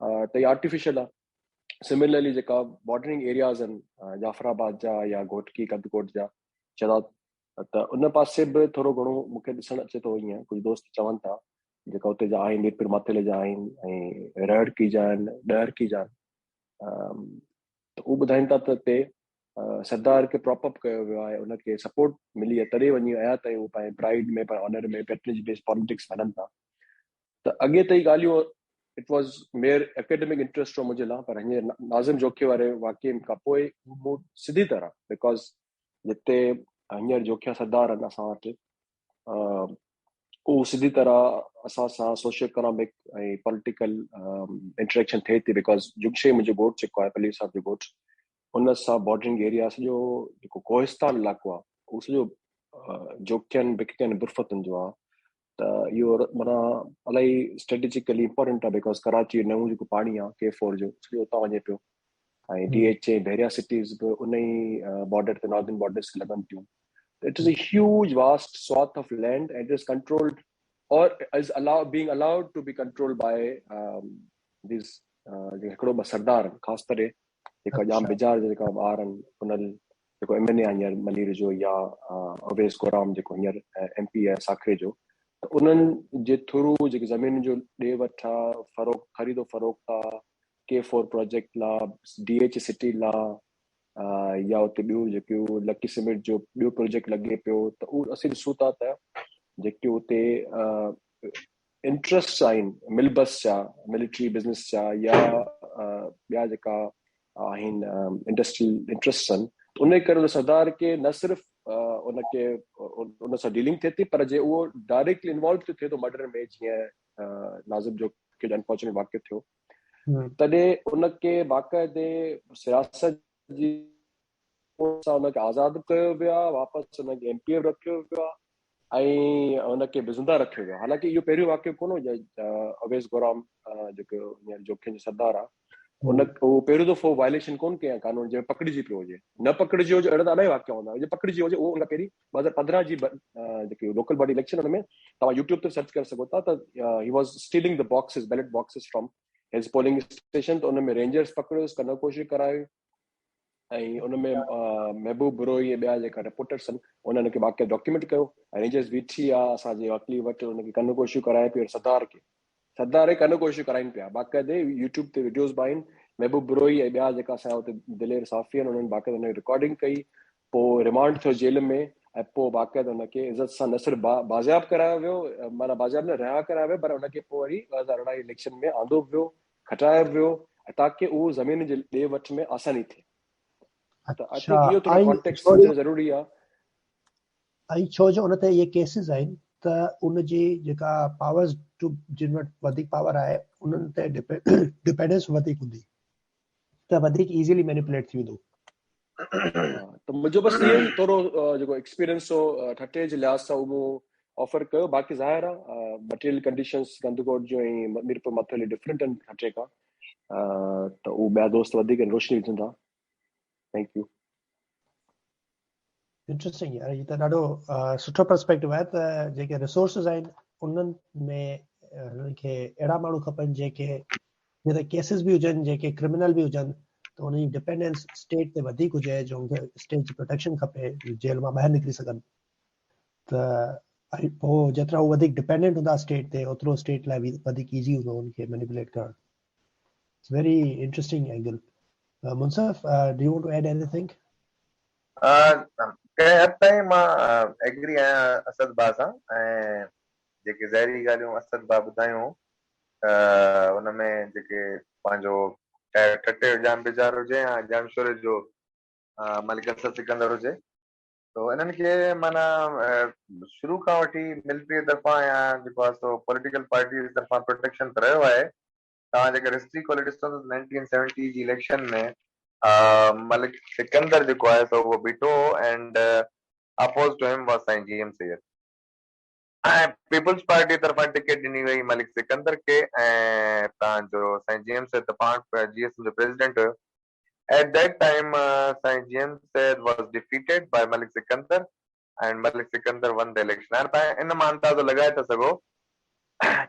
آهي ته هي آرٽيفيشل آهي سملرلي جيڪا بارڊرنگ ايرياز آهن جعفر آباد جا يا گهوٽڪي ڪندڪوٽ جا چرات ته ان پاسي به ٿورو گهڻو مون کي ڏسڻ اچي ٿو ائين ڪجهه دوست چون ٿا جيڪا اتي جا آهن ميرپور ماتيلي جا آهن ۽ رهڙڪي جا آهن ڏهرڪي جا آهن ته هو ٻڌائين ٿا ته اتي سردار کي پراپ اپ ڪيو ويو آهي ان کي سپورٽ ملي آهي تڏهن وڃي آيا تائين هو پنهنجي پرائيڊ ۾ پنهنجي آنر ۾ پيٽرنيج بيس پاليٽڪس هلن ٿا ته اڳي ته هي ڳالهيون it was mere academic interest هو منهنجي لاء پر هينئر ناظم جوکي واري واقعي کان پوء مون سڌي طرح بيڪاز جتي هينئر جوکيا سردار آهن اسان وٽ اهو سڌي طرح اسان سان سوشل اڪنامڪ ۽ پوليٽيڪل انٽريڪشن ٿئي ٿي بيڪاز جمشيد منهنجو گوٺ جيڪو آهي پلير صاحب جو گوٺ ان سان بارڊرنگ ايريا سڄو جيڪو ڪوهستان علائقو آهي اهو سڄو جوکين بکين برفتن جو آهي ته اهو مانا الاهي اسٽريٽجيڪلي امپورٽنٽ آهي بيڪاز ڪراچي جو نئون جيڪو پاڻي آهي ڪي فور جو سڄو اتان وڃي پيو ۽ D H A Bahria cities به ان ئي بارڊر تي ناردرن بارڊرس کي لڳن ٿيون ته it is a huge vast swath of land and is controlled or is also being allowed to be controlled by these جيڪي هڪڙو ٻه سردار خاص طرح جيڪا ڄام اچھا. بجار جا جيڪا ٻار آهن انهن جيڪو ايم اين اي آهي هينئر ملير جو يا اويس ڪورام جيڪو هينئر ايم پي آهي ساکري جو ته انهن جي ٿرو جيڪي زمينن جو ڏي وٺ آهي فروخت خريد و فروخت آهي ڪي فور پراجيڪٽ لا، ڊي ايڇ سٽي لا يا اتي ٻيون جيڪيون لڪي سيمنٽ جو ٻيو پروجيڪٽ لڳي پيو ته اهو اسين ڏسون ٿا ته جيڪي اتي انٽرسٽ آهن ملبس جا ملٽري بزنس جا يا ٻيا جيڪا آهن انڊسٽريل انٽرسٽ آهن ان جي ڪري سردار کي نه صرف ان کي ان سان ڊيلنگ ٿئي ٿي پر جي اهو ڊائريڪٽلي انوالو ٿئي ٿو مرڊر ۾ جيئن ناظم جو کي انفارچونيٽ واقع ٿيو تڏهن ان کي باقاعدي سياست جي سان ان کي آزاد به ڪيو ويو آهي واپس ان کي ايم پي ايف رکيو ويو آهي ۽ ان کي به زنده رکيو ويو حالانڪه اهو پهريون واقعو ڪونه هو اويس گورام جيڪو هينئر جوکين جو سردار آهي ان هو پهريون دفعو وائليشن ڪونه ڪيا قانون جي پڪڙجي پيو هجي نه پڪڙجي هجي اهڙا ته الاهي واقعا هوندا هجي پڪڙجي هجي اهو ان کان پهرين ٻه هزار پندرهن جي جيڪي لوڪل باڊي اليڪشن ان ۾ توهان يوٽيوب تي سرچ ڪري سگهو ٿا ته هي was stealing the boxes ballot boxes from his polling station ته ان ۾ رينجرز پڪڙيوس ڪنه ڪوشي ڪرايو ۽ ان ۾ محبوب بروهي ۽ ٻيا جيڪا رپورٽرس آهن انهن کي واقعي ڊاڪيومينٽ ڪيو رينجرز بيٺي آ اسان جي وڪلي وٽ ان کي ڪنه ڪوشي ڪرائي پيو سردار کي سردار هڪ انوکو شيء ڪرائين پيا، باقاعدي يوٽيوب تي وڊيوز به آهن، محبوب بروهي ۽ ٻيا جيڪا اسان جا اتي دلير صحافي آهن انهن باقاعده ان جي رڪارڊنگ ڪئي، پوء ريمانڊ ٿيو جيل ۾ ۽ پوء باقاعده ان کي عزت سان نه صرف با بازياب ڪرايو ويو معنيٰ بازياب نه رها ڪرايو ويو پر ان کي پوء وري ٻه هزار ارڙهن جي اليڪشن ۾ آندو به ويو، کٽايو به ويو تاڪه اهو زمين جي ڏي وٺ ۾ آساني ٿئي ته آء ٿنڪ اهو ٿورو ڪانٽيڪسٽ سمجهڻ ضروري آهي. ۽ ڇو جو ان تي اهي ڪيسز آهن ته ان جي جيڪا پاورز ٽو جن وٽ وڌيڪ پاور آهي انهن تي ڊپينڊنس وڌيڪ هوندي ته وڌيڪ ايزيلي مينيپوليٽ ٿي ويندو ته منهنجو بس اهو ئي ٿورو جيڪو ايڪسپيرينس هو ٺٽي جي لحاظ سان اهو آفر ڪيو باقي ظاهر آهي مٽيريل ڪنڊيشنز گندگوٽ جو ۽ ميرپور مٿلي ڊفرنٽ آهن ٺٽي کان ته اهو ٻيا دوست وڌيڪ روشني وجهندا ٿينڪ يو انٽريسٽنگ يار هي ته ڏاڍو سٺو پرسپيڪٽو آهي ته جيڪي ريسورسز آهن انهن ۾ هنن کي اهڙا ماڻهو کپن جيڪي جي ته ڪيسز به هجن جيڪي ڪرمنل به هجن ته انهن جي ڊپينڊنس اسٽيٽ تي وڌيڪ هجي جو ان کي اسٽيٽ جي پروٽيڪشن کپي جيل مان ٻاهر نڪري سگهن ته هو جيترا هو وڌيڪ ڊپينڊنٽ هوندا اسٽيٽ تي اوترو اسٽيٽ لاء وڌيڪ ايزي هوندو هن کي مينيپوليٽ ڪرڻ It's very interesting angle. Uh, Munsaf, uh, do you want to add anything? ڪنهن حد تائين مان ايگري آهيان اسد با سان ۽ جيڪي ظاهري ڳالهيون اسد با ٻڌايون ان ۾ جيڪي پنهنجو ٺٽي جو ڄام بيزار هجي يا ڄامشوري جو ملڪ اسد سڪندر هجي سو انهن کي معنيٰ شروع کان وٺي ملٽريء طرفان يا جيڪو آهي سو پوليٽيڪل پارٽيز طرفان پروٽيڪشن ته رهيو آهي. توهان جيڪر هسٽري کولي ڏسندو ته نائنٽين سيونٽي جي اليڪشن ۾ ملڪ سڪندر جيڪو آهي سو اهو بيٺو هو and opposed to him was سائين جي ايم سيد ۽ پيپلز پارٽيء طرفان ٽڪيٽ ڏني وئي ملڪ سڪندر کي ۽ تان جو سائين جي ايم سيد ته پاڻ جي ايس ايم جو پريزيڊنٽ هيو At that time سائين جيئن Syed was defeated by Malik Sikandar and Malik Sikandar won the election هاڻي تان ان مان اندازو لڳائي ٿا سگهو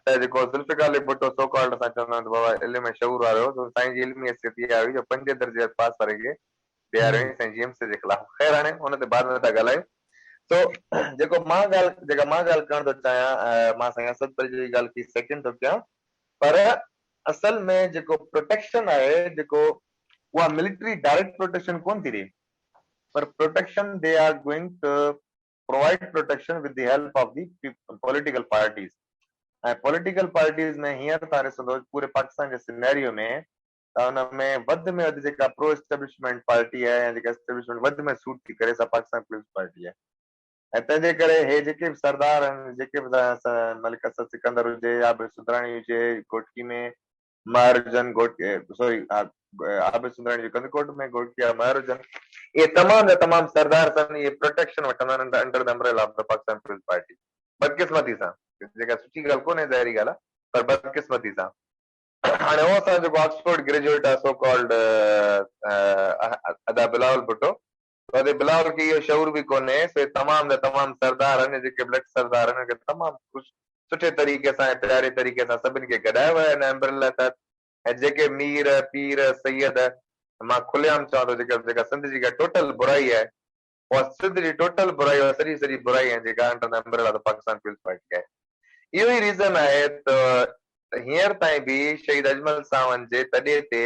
ته جيڪو ذوالفقار علي ڀٽو سو ڪالڊ اسان چوندا آهيون ته بابا علم ۽ شعور وارو هو سائين جي علمي حيثيت اها هئي جو پنجين درجي پاس واري کي بيهاريو هئائين سائين جيئن سيد جي خلاف خير هاڻي ان تي بعد ۾ ٿا ڳالهايون سو جيڪو مان ڳالهه جيڪا مان ڳالهه ڪرڻ ٿو چاهيان مان سائين اسد پري جي ڳالهه کي سيڪنڊ ٿو ڪيان پر اصل ۾ جيڪو پروٽيڪشن آهي جيڪو اها ملٽري ڊائريڪٽ پروٽيڪشن ڪونه ٿي ڏي پر protection they are going to provide protection with the help of the political parties ۽ political parties ۾ هينئر تان ڏسندو پوري پاڪستان جي سينيريو ۾ ته ان ۾ وڌ ۾ وڌ جيڪا پرو اسٽيبلشمينٽ پارٽي آهي يا جيڪا اسٽيبلشمينٽ وڌ ۾ سوٽ ٿي ڪري سا پاڪستان پيپلز پارٽي آهي. ۽ تنهنجي ڪري هي جيڪي به سردار آهن، جيڪي به ملڪ اسد سڪندر هجي يا عابد سندراڻي هجي گهوٽڪي ۾ مهر هجن، سوري عابد سندراڻي جو ڪنڌڪوٽ ۾ گهوٽڪي يا مهر هجن، اهي تمام جا تمام سردار سان اهي پروٽيڪشن وٺندا آهن under the umbrella of the Pakistan peoples Party. بدقسمتي سان، جيڪا سٺي ڳالهه ڪونهي ظاهري ڳالهه آهي، پر بدقسمتي سان هاڻي هو اسان جو جيڪو آڪسفورڊ گريجوئيٽ آهي سو ڪالڊ ادا بلاول ڀٽو وڏي بلال کي اهو شعور به ڪونهي، سي تمام جا تمام سردار اڃ جيڪي بلڪ سردار انهن کي تمام خوش سٺي طريقي سان ۽ پياري طريقي سان سڀني کي گڏايو ويو آهي ان امبريلا تحت ۽ جيڪي مير، پير، سيد مان کلي عام چوان ٿو جيڪي جيڪا سنڌ جي ڪا ٽوٽل برائي آهي اها سنڌ جي ٽوٽل برائي اها سڄي سڄي برائي ۽ جيڪا انڊر دي امبريلا ته پاڪستان پيپلز پارٽي آهي اهو ئي ريزن آهي ته هينئر تائين به شهيد اجمل ساوند جي تڏي تي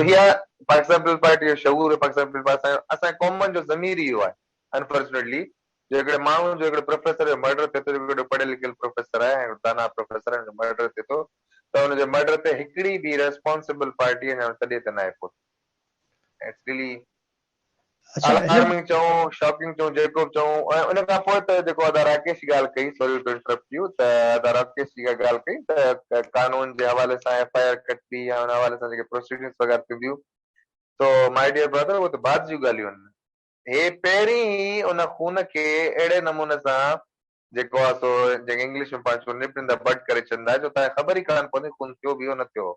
اها پاڪستان پيپلز پارٽي جو شعور پاڪستان پيپلز پارٽي سان اسان جي قومن جو ضمير ئي اهو آهي انفارچونيٽلي جو هڪڙي ماڻهو جو هڪڙي پروفيسر جو مرڊر ٿئي ٿو جو هڪڙو پڙهيل لکيل پروفيسر آهي ۽ دانا پروفيسر آهي ان جو مرڊر ٿئي ٿو ته ان جي مرڊر تي هڪڙي به ريسپانسبل پارٽي اڃا تڏي تي ناهي پهتي اٽس ريلي الارمنگ چئون، شاڪنگ چئون، جيڪوب چئون ۽ ان کان پوء ته جيڪو ادا راڪيش ڳالهه ڪئي، سوري ٽو انٽرپٽ يو، ته ادا راڪيش جي اها ڳالهه ڪئي ته قانون جي حوالي سان ايف آء آر ڪٽبي يا ان حوالي سان جيڪي پروسيڊنگس وغيره ٿينديون سو ماء ڊيئر برادر اهي ته بعد جون ڳالهيون آهن. هي پهرين ئي ان خون کي اهڙي نموني سان جيڪو آهي سو جنهن کي انگلش ۾ پاڻ چئبو نپ ان دي بڊ ڪري ڇڏيندا جو تان کي خبر ئي ڪانه پوندي خون ٿيو به هو نه ٿيو هو.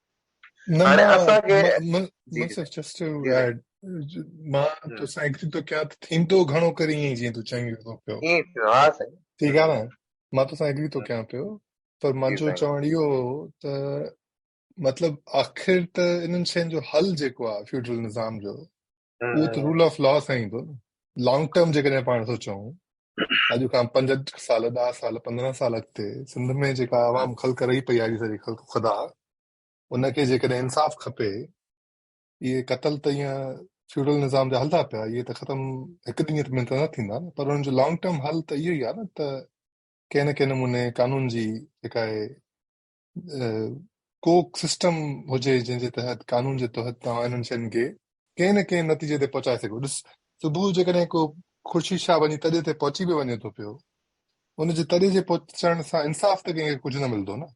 هاڻي اسان کي منصف جسٽ ٽو ايڊ مان تو سان ايگري تو ڪيان ته ٿيندو گهڻو ڪري ائين جيئن تو چوين ٿو پيو ها سائين ٺيڪ آ نه مان تو سان ايگري تو ڪيان پيو پر منهنجو چوڻ اهو ته مطلب آخر ته انهن شين جو حل جيڪو آ فيوڊل نظام جو اهو ته رول آف لا سائين به لانگ ٽرم جيڪڏهن پاڻ ٿو چون اڄ کان پنج سال ڏهه سال پندرهن سال اڳتي سنڌ ۾ جيڪا عوام خلق رهي پئي آهي ساري خلق خدا ان کي جيڪڏهن انصاف کپي اهي قتل ته ائين فيوڊل نظام جا هلندا پيا اهي ته ختم هڪ ڏينهن ۾ ته نه ٿيندا نه پر ان جو لانگ ٽرم حل ته اهو ئي آهي نه ته ڪنهن نه ڪنهن نموني قانون جي جيڪا ڪو سسٽم هجي جنهن جي تحت قانون جي تحت توهان انهن شين کي ڪنهن نه ڪنهن نتيجي تي پهچائي سگهو ڏس صبح جيڪڏهن ڪو خورشيد شاهه وڃي تڏي تي پهچي به وڃي ٿو پيو ان جي تڏي جي پهچڻ سان انصاف ته ڪنهن کي ڪجهه نه ملندو نه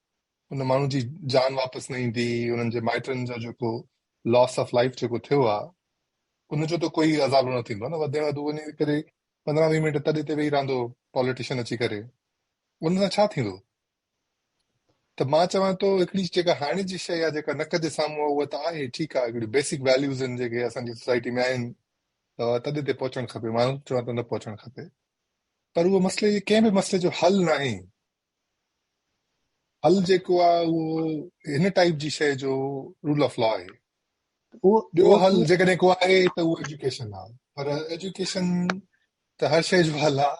ان ماڻهو جي جان واپس نه ايندي انهن جي مائٽن جو جيڪو لاس آف لائف جيڪو ٿيو آ ان جو ته ڪوئي عذاب نه ٿيندو نه وڌي وڌو وڃي ڪري پندرهن ويهه منٽ تڏي تي ويهي رهندو پاليٽيشن اچي ڪري ان سان ڇا ٿيندو ته مان چوان ٿو هڪڙي جيڪا هاڻي جي شيء آهي جيڪا نڪ جي سامهون آهي اها ته آهي ٺيڪ آهي هڪڙي بيسڪ ويليوز آهن جيڪي اسان جي سوسائٽي ۾ آهن ته تڏهن تي پهچڻ کپي مان چوان ٿو نه پهچڻ کپي پر اهو مسئلي جي ڪنهن به مسئلي جو حل ناهي حل جيڪو آهي اهو هن ٽائيپ جي شيء جو رول آف لا آهي ٻيو حل جيڪڏهن ڪو آهي ته اهو ايجوڪيشن آهي پر ايجوڪيشن ته هر شيء جو حل آهي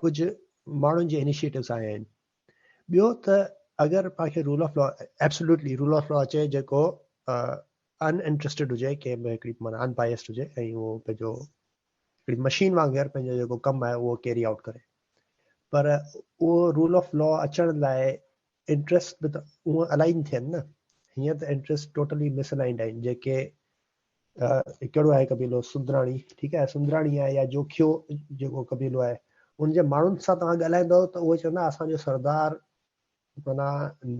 ڪجهه ماڻهن جي انيشيئيٽوز آيا آهن ٻيو ته اگر پا کي rule of law absolutely rule of law اچي جيڪو ان انٽرسٽيڊ هجي ڪنهن به هڪڙي معنی ان بائسڊ هجي ۽ اهو پنهنجو هڪڙي مشين وانگر پنهنجو جيڪو ڪم آهي اهو ڪيري آؤٽ ڪري پر اهو رول آف لا اچڻ لاء انٽرسٽ به ته اهو الائن ٿين نه هيئن ته انٽرسٽ ٽوٽلي مس الائنڊ آهن جيڪي ڪهڙو آهي قبيلو؟ سندراڻي، ٺيڪ آهي سندراڻي آهي يا جوکيو جيڪو قبيلو آهي ان جي ماڻهن سان توهان ڳالهائيندؤ ته اهي چوندا اسان جو سردار مانا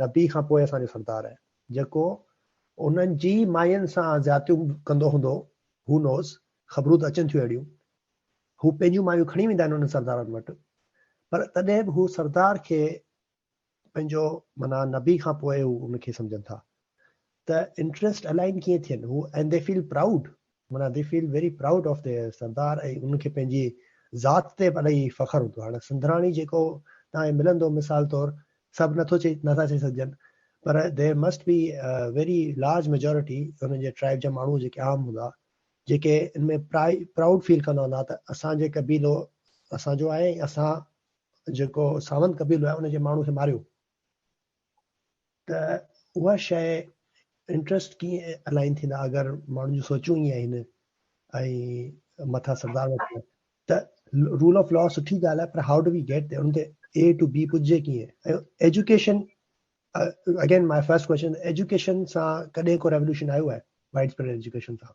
نبي کان پوء اسان جو سردار آهي جيڪو انهن جي ماين سان زيادتيون ڪندو هوندو هو نوز خبرون ته اچن ٿيون اهڙيون هو پنهنجون مايون کڻي ويندا آهن انهن سردارن وٽ پر تڏهن به هو سردار کي پنهنجو معنيٰ نبي کان پوء هو ان کي سمجهن ٿا ته انٽريسٽ الائن ڪيئن ٿين هو اينڊ دي فيل پرائوڊ معنيٰ they feel very proud of their سردار ۽ ان کي پنهنجي ذات تي الائي فخر هوندو هاڻي سنڌراڻي جيڪو تان ملندو مثال طور سڀ نٿو چئي نٿا چئي سگهجن پر there must be very large majority ان جي ٽرائب جا ماڻهو جيڪي عام هوندا جيڪي ان ۾ پرائوڊ فيل ڪندا هوندا ته اسان جي قبيلو اسان جو آهي ۽ اسان جيڪو ساوند قبيلو آهي ان جي ماڻهو کي ماريو ته اها شيء انٽرسٽ ڪيئن الائن ٿيندا اگر ماڻهن جون سوچون ائين آهن ۽ مٿا سردار وٺن ته رول آف لا سٺي ڳالهه آهي پر هاء ڊو وي گيٽ ان تي اي ٽو بي پڄجي ڪيئن ۽ education again my first question education سان ڪڏهن ڪو ريولوشن آيو آهي وائڊ اسپريڊ ايجوڪيشن سان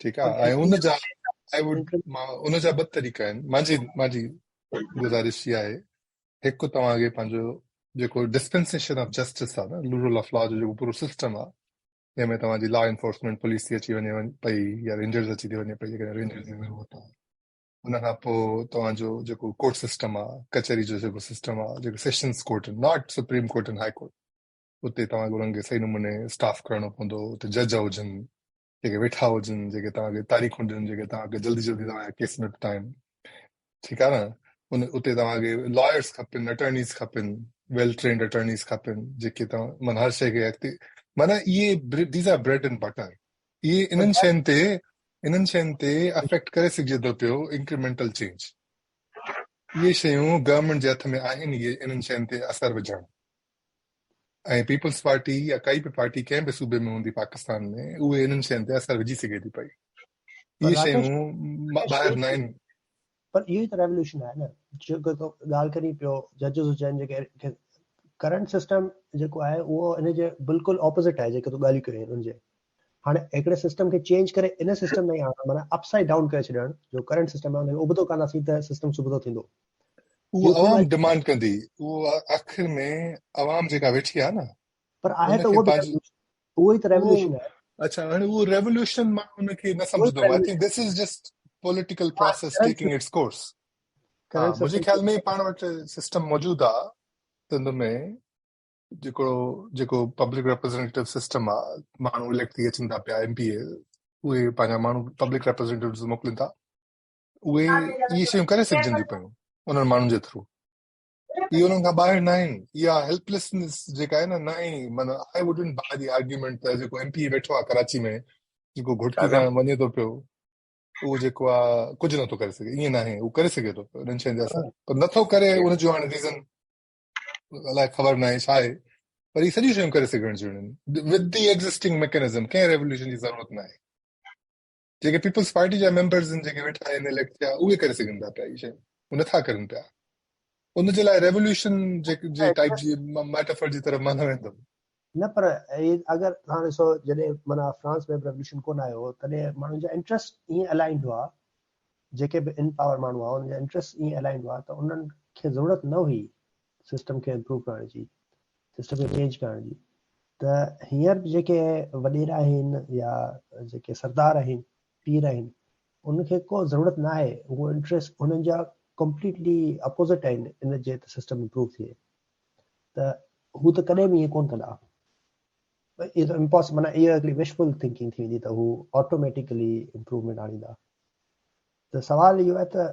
ٺيڪ آ ۽ ان جا آئي ووڊ ان جا ٻه طريقا آهن مانجي مانجي گذارش اها آهي هڪ توهان کي پنهنجو جيڪو ڊسپنسيشن آف جسٽس آ نه رول آف لا جو جيڪو پورو سسٽم آ جنهن ۾ توهان جي لا انفورسمنٽ پوليس ٿي اچي وڃي پئي يا رينجرز اچي ٿي وڃي پئي جيڪڏهن رينجرز ۾ ويهو ٿا ان کان پوء توهان جو جيڪو ڪورٽ سسٽم آ ڪچهري جو جيڪو سسٽم آ جيڪو sessions court not supreme court ۽ high court اتي توهان کي انهن کي صحيح نموني اسٽاف ڪرائڻو پوندو اتي جج هجن جيڪي ويٺا هجن جيڪي توهان کي تاريخون ڏين جيڪي توهان کي جلدي جلدي توهان جا ڪيس نپٽائين ٺيڪ آهي نه ان اتي توهان کي لائرس کپن اٽرنيز کپن ويل ٽرينڊ اٽرنيز کپن جيڪي توهان مانا هر شيء کي اڳتي مانا اهي these are bread and butter اهي انهن شين تي انهن شين تي افيڪٽ ڪري سگهجي ٿو پيو انڪريمنٽل چينج اهي شيون گورنمنٽ جي هٿ ۾ آهن اهي انهن شين تي اثر وجهڻ ۽ پيپلز پارٽي يا ڪائي به پارٽي ڪنهن به صوبي ۾ هوندي پاڪستان ۾ اهي انهن شين تي اثر وجهي سگهي ٿي پئي اهي شيون ٻاهر نه آهن پر اهو ته ريولوشن آهي نه جيڪو تو ڳالهه ڪري پيو ججز هجن جيڪي ڪرنٽ سسٽم جيڪو آهي اهو ان جي بلڪل اپوزٽ آهي جيڪي تو ڳالهيون ڪرين ان جي هاڻي هڪڙي سسٽم کي چينج ڪري ان سسٽم ۾ آڻڻ معنيٰ اپ سائيڊ ڊائون ڪري ڇڏڻ جو ڪرنٽ سسٽم آهي ان کي ابتو ڪنداسين ته سسٽم سبتو ٿيندو اهو عوام ڊمانڊ ڪندي اهو آخر ۾ عوام جيڪا ويٺي آهي نه پر آهي ته اهو اهو ئي ته ريوليوشن آهي اچھا هاڻي اهو ريوليوشن مان ان کي نه سمجھندو آهي ته this is just political process taking its course منهنجي خيال ۾ پاڻ وٽ سسٽم موجود آهي سنڌ ۾ جيڪو جيڪو پبلڪ ريپريزنٽيو سسٽم آهي ماڻهو اليڪٽ ٿي اچن ٿا پيا ايم پي اي اهي پنهنجا ماڻهو پبلڪ ريپريزنٽيوز موڪلين ٿا اهي اهي شيون ڪري سگهجنديون پيون انهن ماڻهن جي ٿرو اهي انهن کان ٻاهر نه آهن اها هيلپليسنس جيڪا آهي نه نه آهي مطلب آء ووڊنٽ باء دي آرگيومينٽ ته جيڪو ايم پي اي ويٺو آهي ڪراچي ۾ جيڪو گهٽڪي کان وڃي ٿو پيو اهو جيڪو آهي ڪجهه نٿو ڪري سگهي ائين نه آهي اهو ڪري سگهي ٿو انهن شين جا اثر پر نٿو ڪري ان جو هاڻي ريزن الائي خبر نه آهي ڇا آهي پر هي سڄيون شيون ڪري سگهڻ جون آهن ود دي ايگزسٽنگ ميڪنزم ڪنهن ريولوشن جي ضرورت نه آهي جيڪي پيپلز پارٽي جا ميمبرز ان جيڪي ويٺا آهن اليڪٽ ٿيا اهي ڪري سگهن ٿا پيا اهي شيون هو نٿا ڪرن پيا ان جي لاء ريولوشن جي جي ٽائيپ جي ميٽافر جي طرف مان نه ويندم نه پر اگر هاڻ ڏسو جڏهن معنيٰ فرانس ۾ ريولوشن ڪونه آيو هو تڏهن ماڻهن جا انٽرسٽ ائين الائنڊ هئا جيڪي به ان پاور ماڻهو هئا ان جا انٽرسٽ ائين الائنڊ هئا ته انهن کي ضرورت نه هئي سسٽم کي امپروو ڪرڻ جي سسٽم کي چينج ڪرڻ جي ته هينئر جيڪي وڏيرا آهن يا جيڪي سردار آهن پير آهن ان کي ڪو ضرورت نه آهي اهو انٽرسٽ انهن جا ڪمپليٽلي اپوزٽ آهن ان جي ته سسٽم امپروو ٿئي ته هو ته ڪڏهن به ائين ڪون ڪندا اهو ته امپاس معنی اها هڪڙي وشفل ٿنڪنگ ٿي ويندي ته هو آٽوميٽيڪلي امپروومينٽ آڻيندا ته سوال اهو آهي ته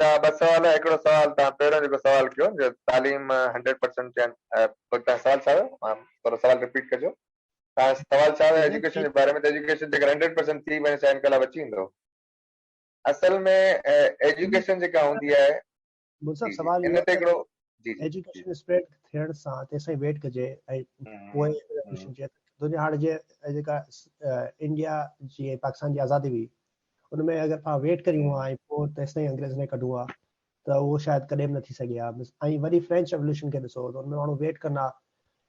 جا ٻه سوال هئا هڪڙو سوال توهان پهريون جيڪو سوال ڪيو جو تعليم هنڊريڊ پرسنٽ چئن توهان سوال ڇا هيو ٿورو سوال رپيٽ ڪجو توهان سوال ڇا هيو ايجوڪيشن جي باري ۾ ته ايجوڪيشن جيڪر هنڊريڊ پرسنٽ ٿي وڃي ڇا انقلاب اچي ويندو اصل ۾ ايجوڪيشن جيڪا هوندي آهي مون سان سوال ان تي هڪڙو ايجوڪيشن اسپريڊ ٿيڻ سان تيسين ويٽ ڪجي ۽ پوء ايجوڪيشن جي دنيا هاڻ جي جيڪا انڊيا جي پاڪستان جي آزادي هئي ان ۾ اگر پا ويٽ ڪريون ها ۽ پوء تيسين انگريز نه ڪڍون ها ته اهو شايد ڪڏهن به نه ٿي سگهي ها ۽ وري فرينچ ريولوشن کي ڏسو ته ان ۾ ماڻهو ويٽ ڪندا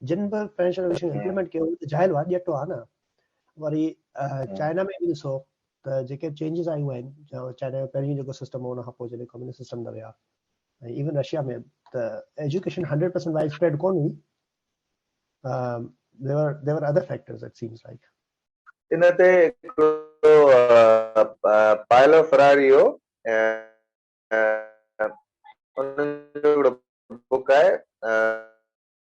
جن به فرينچ ريولوشن امپليمنٽ ڪيو ته جاهل هئا ڄٽ هئا نه وري چائنا ۾ به ڏسو ته جيڪي چينجز آيون آهن چائنا جو پهريون جيڪو سسٽم هو ان کان پوء جڏهن ڪميونسٽ سسٽم ۾ ويا ۽ ايون رشيا ۾ ته education hundred percent wide spread ڪون هئي there are there are other factors it seems like ان تي پائلو فراري هو ان جو بڪ آهي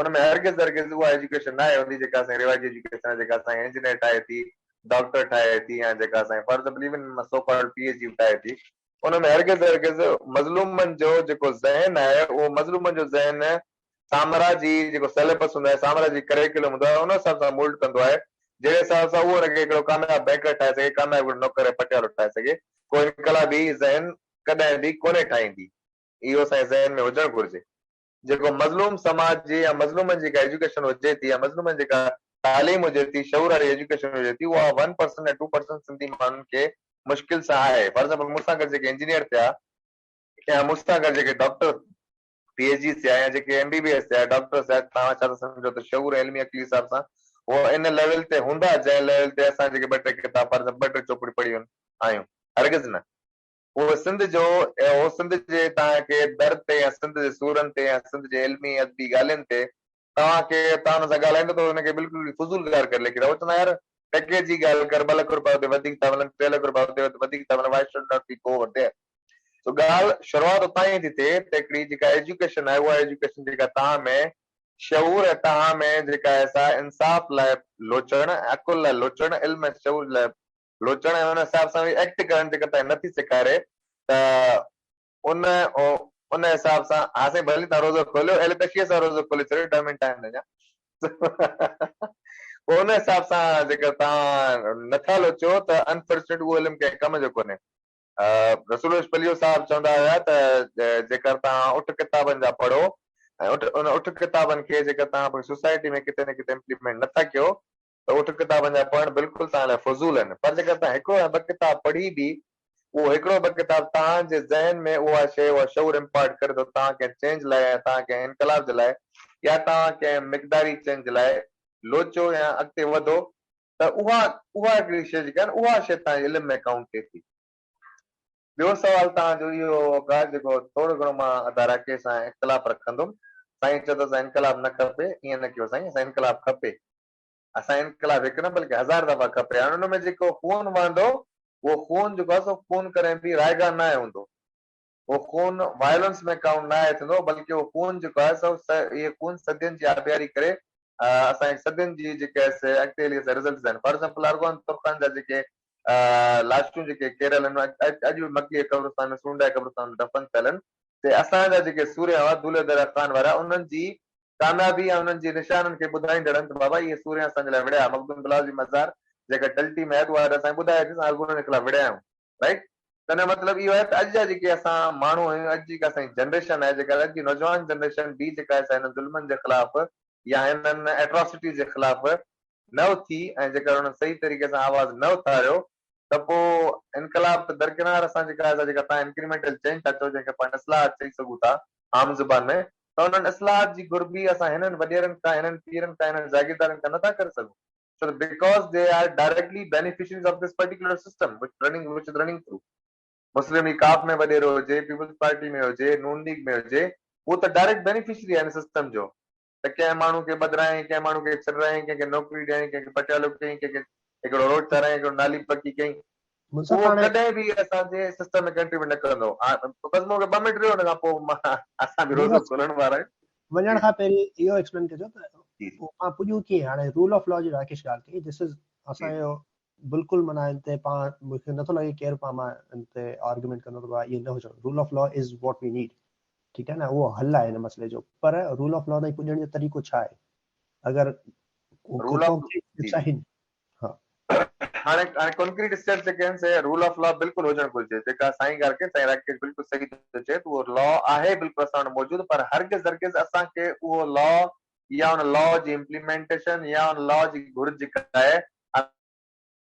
ان ۾ هرگز هرگز اها ايجوڪيشن ناهي هوندي جيڪا اسان جي روايتي ايجوڪيشن آهي جيڪا اسان کي انجنيئر ٺاهي ٿي، ڊاڪٽر ٺاهي ٿي يا جيڪا اسان کي فرض believe in so called P H D به ٺاهي ٿي. ان ۾ هرگز هرگز مظلومن جو جيڪو ذهن آهي اهو مظلومن جو ذهن سامراجي جيڪو سيليبس هوندو آهي، سامراجي ڪريڪولم هوندو آهي ان حساب سان مولڊ ڪندو آهي جهڙي حساب سان اهو ان کي هڪڙو ڪامياب بينڪر ٺاهي سگهي، ڪامياب هڪڙو نوڪر ۽ پٽيوالو ٺاهي سگهي. ڪو انقلابي ذهن ڪڏهن به ڪونهي ٺاهيندي. اهو اسان جي ذهن ۾ هجڻ گهرجي. جيڪو مظلوم سماج جي يا مظلومن جي جيڪا ايجوڪيشن هجي ٿي يا مظلومن جي جيڪا تعليم هجي ٿي شعور واري ايجوڪيشن هجي ٿي اها ون پرسنٽ يا ٽو پرسنٽ سنڌي ماڻهن کي مشڪل سان آهي فار ايگزامپل مون سان گڏ جيڪي انجنيئر ٿيا يا مون سان گڏ جيڪي ڊاڪٽر پي ايچ ڊي ٿيا يا جيڪي ايم بي بي ايس ٿيا ڊاڪٽر ٿيا توهان ڇا ٿا سمجهو ته شعور ۽ علمي عقلي حساب سان هو ان ليول تي هوندا جنهن ليول تي اسان جيڪي ٻه ٽي ڪتاب فار ايگزامپل ٻه ٽي چوپڙيون پڙهيون آهيون هرگز نه هو سنڌ جو ۽ هو سنڌ جي توهان کي در تي يا سنڌ جي سورن تي يا سنڌ جي علمي ادبي ڳالهين تي توهان کي توهان هن سان ڳالهائيندا ته هن کي بلڪل به فضول گار ڪري ليکيندا هو چوندا يار ٽڪيء جي ڳالهه ڪر ٻه لک روپيا اتي وڌيڪ ٿا ملن ٽي لک روپيا اتي وڌيڪ ٿا ملن why should not be go over there سو ڳالهه شروعات اتان ئي ٿي ٿئي ته هڪڙي جيڪا ايجوڪيشن آهي اها ايجوڪيشن جيڪا توهان ۾ شعور ۽ توهان ۾ جيڪا آهي سا انصاف لاء لوچڻ ۽ عقل لاء لوچڻ علم ۽ شعور لاء لوچڻ ۽ ان حساب سان وي ايڪٽ ڪرڻ جيڪر تنهن نه ٿي سيکاري ته ان ان حساب سان ها سائين ڀلي تنهن روزو کوليو اهل تشيء سان روزو کولي ڇڏيو ڏهه منٽ آهن اڃا پوء ان حساب سان جيڪر تان نٿا لوچو ته انفارچونيٽ اهو علم ڪنهن ڪم جو ڪونهي رسول روش پليو صاحب چوندا هيا ته جيڪر تان اٺ ڪتابن جا پڙهو ۽ اٺ ان اٺ ڪتابن کي جيڪر تان سوسائٽي ۾ ڪٿي نه ڪٿي امپليمينٽ نٿا ڪيو ته اٺ ڪتابن جا پڙهڻ بلڪل توهان لاء فضول آهن پر جيڪر توهان هڪڙو يا ٻه ڪتاب پڙهي به اهو هڪڙو ٻه ڪتاب توهان جي ذهن ۾ اها شيء اها شعور امپارٽ ڪري ٿو توهان ڪنهن چينج لاء يا توهان ڪنهن انقلاب جي لاء يا توهان ڪنهن مقداري چينج جي لاء لوچو يا اڳتي وڌو ته اها اها هڪڙي شيء جيڪا آهي نه اها شيء توهان جي علم ۾ ڪائونٽ ٿئي ٿي. ٻيو سوال توهان جو اهو هوڪا جيڪو ٿورو گهڻو مان اداراڪي سان اختلاف رکندم سائين چئو ته اسان انقلاب نه کپي ائين نه ڪيو سائين اسان انقلاب کپي اسان انقلاب هڪ نه بلڪه هزار دفعا کپي هاڻ ان ۾ جيڪو خون وهندو اهو خون جيڪو آهي سو خون ڪڏهن به رائگان ناهي هوندو اهو خون وائلنس ۾ ڪائونٽ ناهي ٿيندو بلڪه اهو خون جيڪو آهي سو اهي خون صدين جي آبياري ڪري اسان جي صدين جي جيڪي آهي سي اڳتي هلي رزلٽس آهن فار ايگزامپل ارغون ترخان جا جيڪي لاشون جيڪي ڪيرل اڄ به مڪي قبرستان ۾ سونڊائي قبرستان ۾ دفن ٿيل ان تي اسان جا جيڪي سورهيا هئا دولهي دره خان وارا انهن جي ڪاميابي ۽ انهن جي نشانن کي ٻڌائيندڙ ان ته بابا اهي سورهيا اسان جي لاء وڙهيا مخدوم بلاول جي مزار جيڪا ٽلٽي ۾ آهي ته اها اڄ اسان کي ٻڌائي ٿي ته اسان انهن جي خلاف وڙهيا آهيون رائيٽ ته ان جو مطلب اهو آهي ته اڄ جا جيڪي اسان ماڻهو آهيون اڄ جيڪا اسان جي جنريشن آهي جيڪا اڄ جي نوجوان جنريشن به جيڪا آهي سا هنن ظلمن جي خلاف يا هنن ايٽراسٽيز جي خلاف نه اٿي ۽ جيڪر انهن صحيح طريقي سان آواز نه اٿاريو ته پوء انقلاب ته درڪنار اسان جيڪا اسان جيڪا تهان انڪريمينٽل چينج ٿا چئو جنهن کي پاڻ اصلاحات چئي سگهون ٿا عام زبان ۾ ته انهن اصلاحات جي گهربي اسان هنن وڏيرن کان هنن پيرن کان هنن جاگيردارن کان نه ٿا ڪري سگهون ڇو ته because they are directly beneficiaries of this particular system which running which is running through Muslim League ڪاف ۾ وڏيرو هجي پيپلز پارٽي ۾ هجي نون ليگ ۾ هجي هو ته ڊائريڪٽ بينيفشري آهي ان سسٽم جو ته ڪنهن ماڻهو کي ٻڌرائين، ڪنهن ماڻهو کي سرڙائين، ڪنهن کي نوڪري ڏيارين، ڪنهن کي پٽيالو ڪيائين، ڪنهن کي هڪڙو روڊ ٺارايائين، هڪڙو نالي پڪي ڪيائين. اهو ڪڏهن به اسان جي سسٽم ۾ ڪنٽريبيوٽ نه ڪندو. بس مون کي ٻه منٽ ڏيو ان کان پوء مان اسان به روزو کولڻ وارا آهيون. وڃڻ کان پهرين اهو ايڪسپلين ڪجو ته اوهان پڄون ڪيئن هاڻي رول آف لا جي راڪيش ڳالهه ڪئي ڌس از اسان جو بلڪل معنيٰ ان تي پاڻ مون کي نٿو لڳي ڪير پاڻ مان ان تي آرگيومينٽ ڪندو ته ائين نه هجڻ rule of law is what we need ٺيڪ آهي نه اهو حل آهي هن مسئلي جو پر رول آف لا تائين پڄڻ جو طريقو ڇا آهي اگر هاڻي هاڻي ڪانڪريٽ اسٽيپ جيڪي آهن سي رول آف لا بلڪل هجڻ گهرجي جيڪا سائين ڳالهه ڪئي سائين راڪيش بلڪل صحيح ٿو چئي ته اهو لا آهي بلڪل اسان وٽ موجود پر هرگز هرگز اسان کي اهو لا يا ان لا جي امپليمينٽيشن يا ان لا جي گهر جيڪا آهي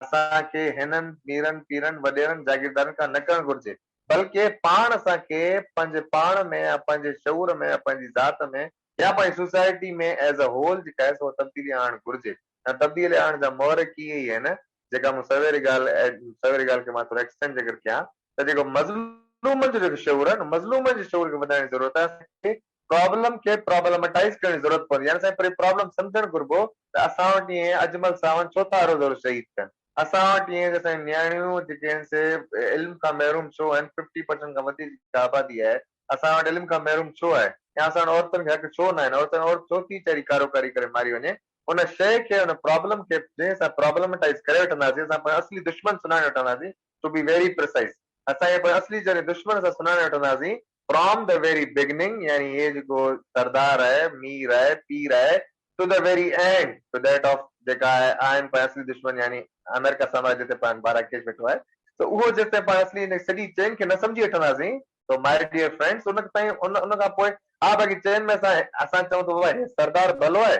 اسان کي هنن ميرن، پيرن، وڏيرن، جاگيردارن کان نه ڪرڻ گهرجي، بلڪه پاڻ اسان کي پنهنجي پاڻ ۾ يا پنهنجي شعور ۾ يا پنهنجي ذات ۾ يا پنهنجي سوسائٽي ۾ As a Whole جيڪا آهي سو تبديلي آڻڻ گهرجي ۽ تبديلي آڻڻ جا محرڪ اهي ئي آهن جيڪا مون سويري ڳالهه سويري ڳالهه کي مان ٿورو Extend جيڪر ڪيان ته جيڪو مظلومن جو جيڪو شعور آهي نه مظلومن جي شعور کي وڌائڻ جي ضرورت آهي اسان کي پرابلم کي پرابلمٽائيز ڪرڻ جي ضرورت پوندي يعني سائين پري پرابلم سمجهڻ گهربو ته اسان وٽ ائين اجمل ساون ڇو ٿا هر روز شهيد ٿين اسان وٽ ائين جو سائين نياڻيون جيڪي آهن سي علم کان محروم ڇو آهن ففٽي پرسنٽ کان وڌيڪ جيڪا آبادي آهي اسان وٽ علم کان محروم ڇو آهي يا اسان وٽ عورتن کي حق ڇو نه آهن عورتن عورت ڇو ٿي چري ڪارو ڪري ڪري ماري وڃي ان شئي کي ان پرابلم کي جنهن سان پرابلمٽائيز ڪري وٺنداسين اسان پنهنجو اصلي دشمن سڃاڻي وٺنداسين ٽو بي ويري پريسائز اسان اهي پوء اصلي جهري دشمن سان سڃاڻي وٺنداسين فرام دي ويري بگننگ يعني اهي جيڪو سردار آهي مير آهي پير آهي to the very end to that of جيڪا آهي آهن پوء اصلي دشمن يعني آمريڪا سامراج جتي پاڻ بارا ڪيش ويٺو آهي ته اهو جيستائين پاڻ اصلي ان سڄي چين کي نه سمجهي وٺنداسين تو مائي ڊيئر فرينڊس ان تائين ان ان کان پوء ها باقي چين ۾ اسان اسان چئون ته بابا هي سردار ڀلو آهي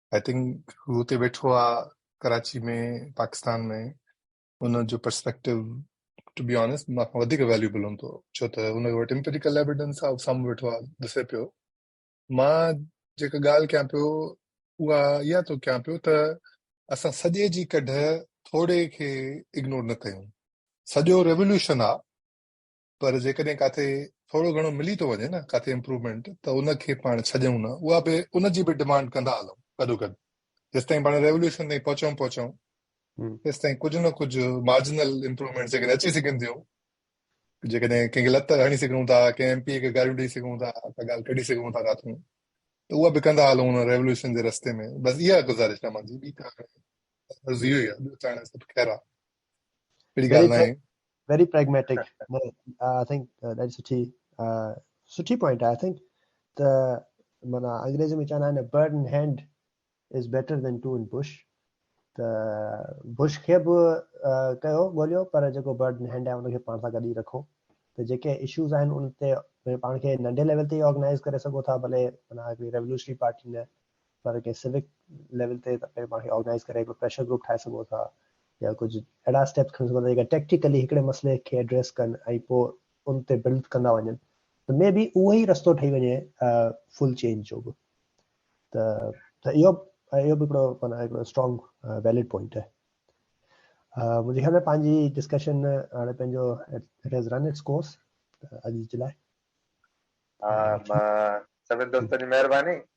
آئي ٿنڪ هو اتي ويٺو آ ڪراچي ۾ پاڪستان ۾ ان جو پرسپيڪٽو ٽو بي آنيسٽ مان کان وڌيڪ ويليوبل هوندو ڇو ته هن وٽ امپيريڪل ايويڊنس آ سامهون ويٺو آ ڏسي پيو مان جيڪا ڳالهه ڪيان پيو اها اها ٿو ڪيان پيو ته اسان سڄي جي ڪڍ ٿوري کي اگنور نه ڪيون سڄو ريوليوشن آ پر جيڪڏهن ڪاٿي ٿورو گهڻو ملي ٿو وڃي نه ڪاٿي امپروومينٽ ته ان کي پاڻ ڇڏيون نه اها به ان جي به ڊمانڊ ڪندا هلون گڏوگڏ جيستائين پاڻ ريوليوشن تائين پهچون پهچون تيستائين ڪجهه نه ڪجهه مارجنل امپروومينٽ جيڪڏهن اچي سگهن ٿيون جيڪڏهن ڪنهن کي لت هڻي سگهون ٿا ڪنهن ايم پي کي گاريون ڏيئي سگهون ٿا ڪا ڳالهه ڪڍي سگهون ٿا ڪاٿون ته اها به ڪندا هلون ان ريوليوشن جي رستي ۾ بس اها گذارش رحمان جي ٻي ته هاڻي عرض اهو ئي آهي ٻيو ته هاڻي سڀ خير آهي اهڙي ڳالهه ناهي ويري پريگميٽڪ آء ٿنڪ ڏاڍي سٺي سٺي پوائنٽ آء ٿنڪ ته مانا انگريزي ۾ چوندو آهي نه bird in hand is better than two in bush ته بش کي به ڪيو ڳوليو پر جيڪو برڊ ان هينڊ آهي ان کي پاڻ سان گڏ ئي رکو ته جيڪي اشوز آهن ان تي پاڻ کي ننڍي ليول تي آرگنائز ڪري سگهو ٿا ڀلي مانا هڪڙي ريولوشنري پارٽي نه پر ڪنهن سوڪ ليول تي پنهنجي پاڻ کي آرگنائيز ڪري هڪڙو پريشر گروپ ٺاهي سگهو ٿا يا ڪجهه اهڙا اسٽيپ کڻي سگهو ٿا جيڪا ٽيڪٽيڪلي هڪڙي مسئلي کي ايڊريس ڪن ۽ پوء ان تي بلڊ ڪندا وڃن ته مي بي اهو ئي رستو ٺهي وڃي فل چينج جو به ته ته اهو اهو به هڪڙو معنی هڪڙو اسٽرانگ ويلڊ پوائنٽ آهي منهنجي خيال ۾ پنهنجي ڊسڪشن هاڻي پنهنجو it has run its course اڄ جي لاء سڀني دوستن جي مهرباني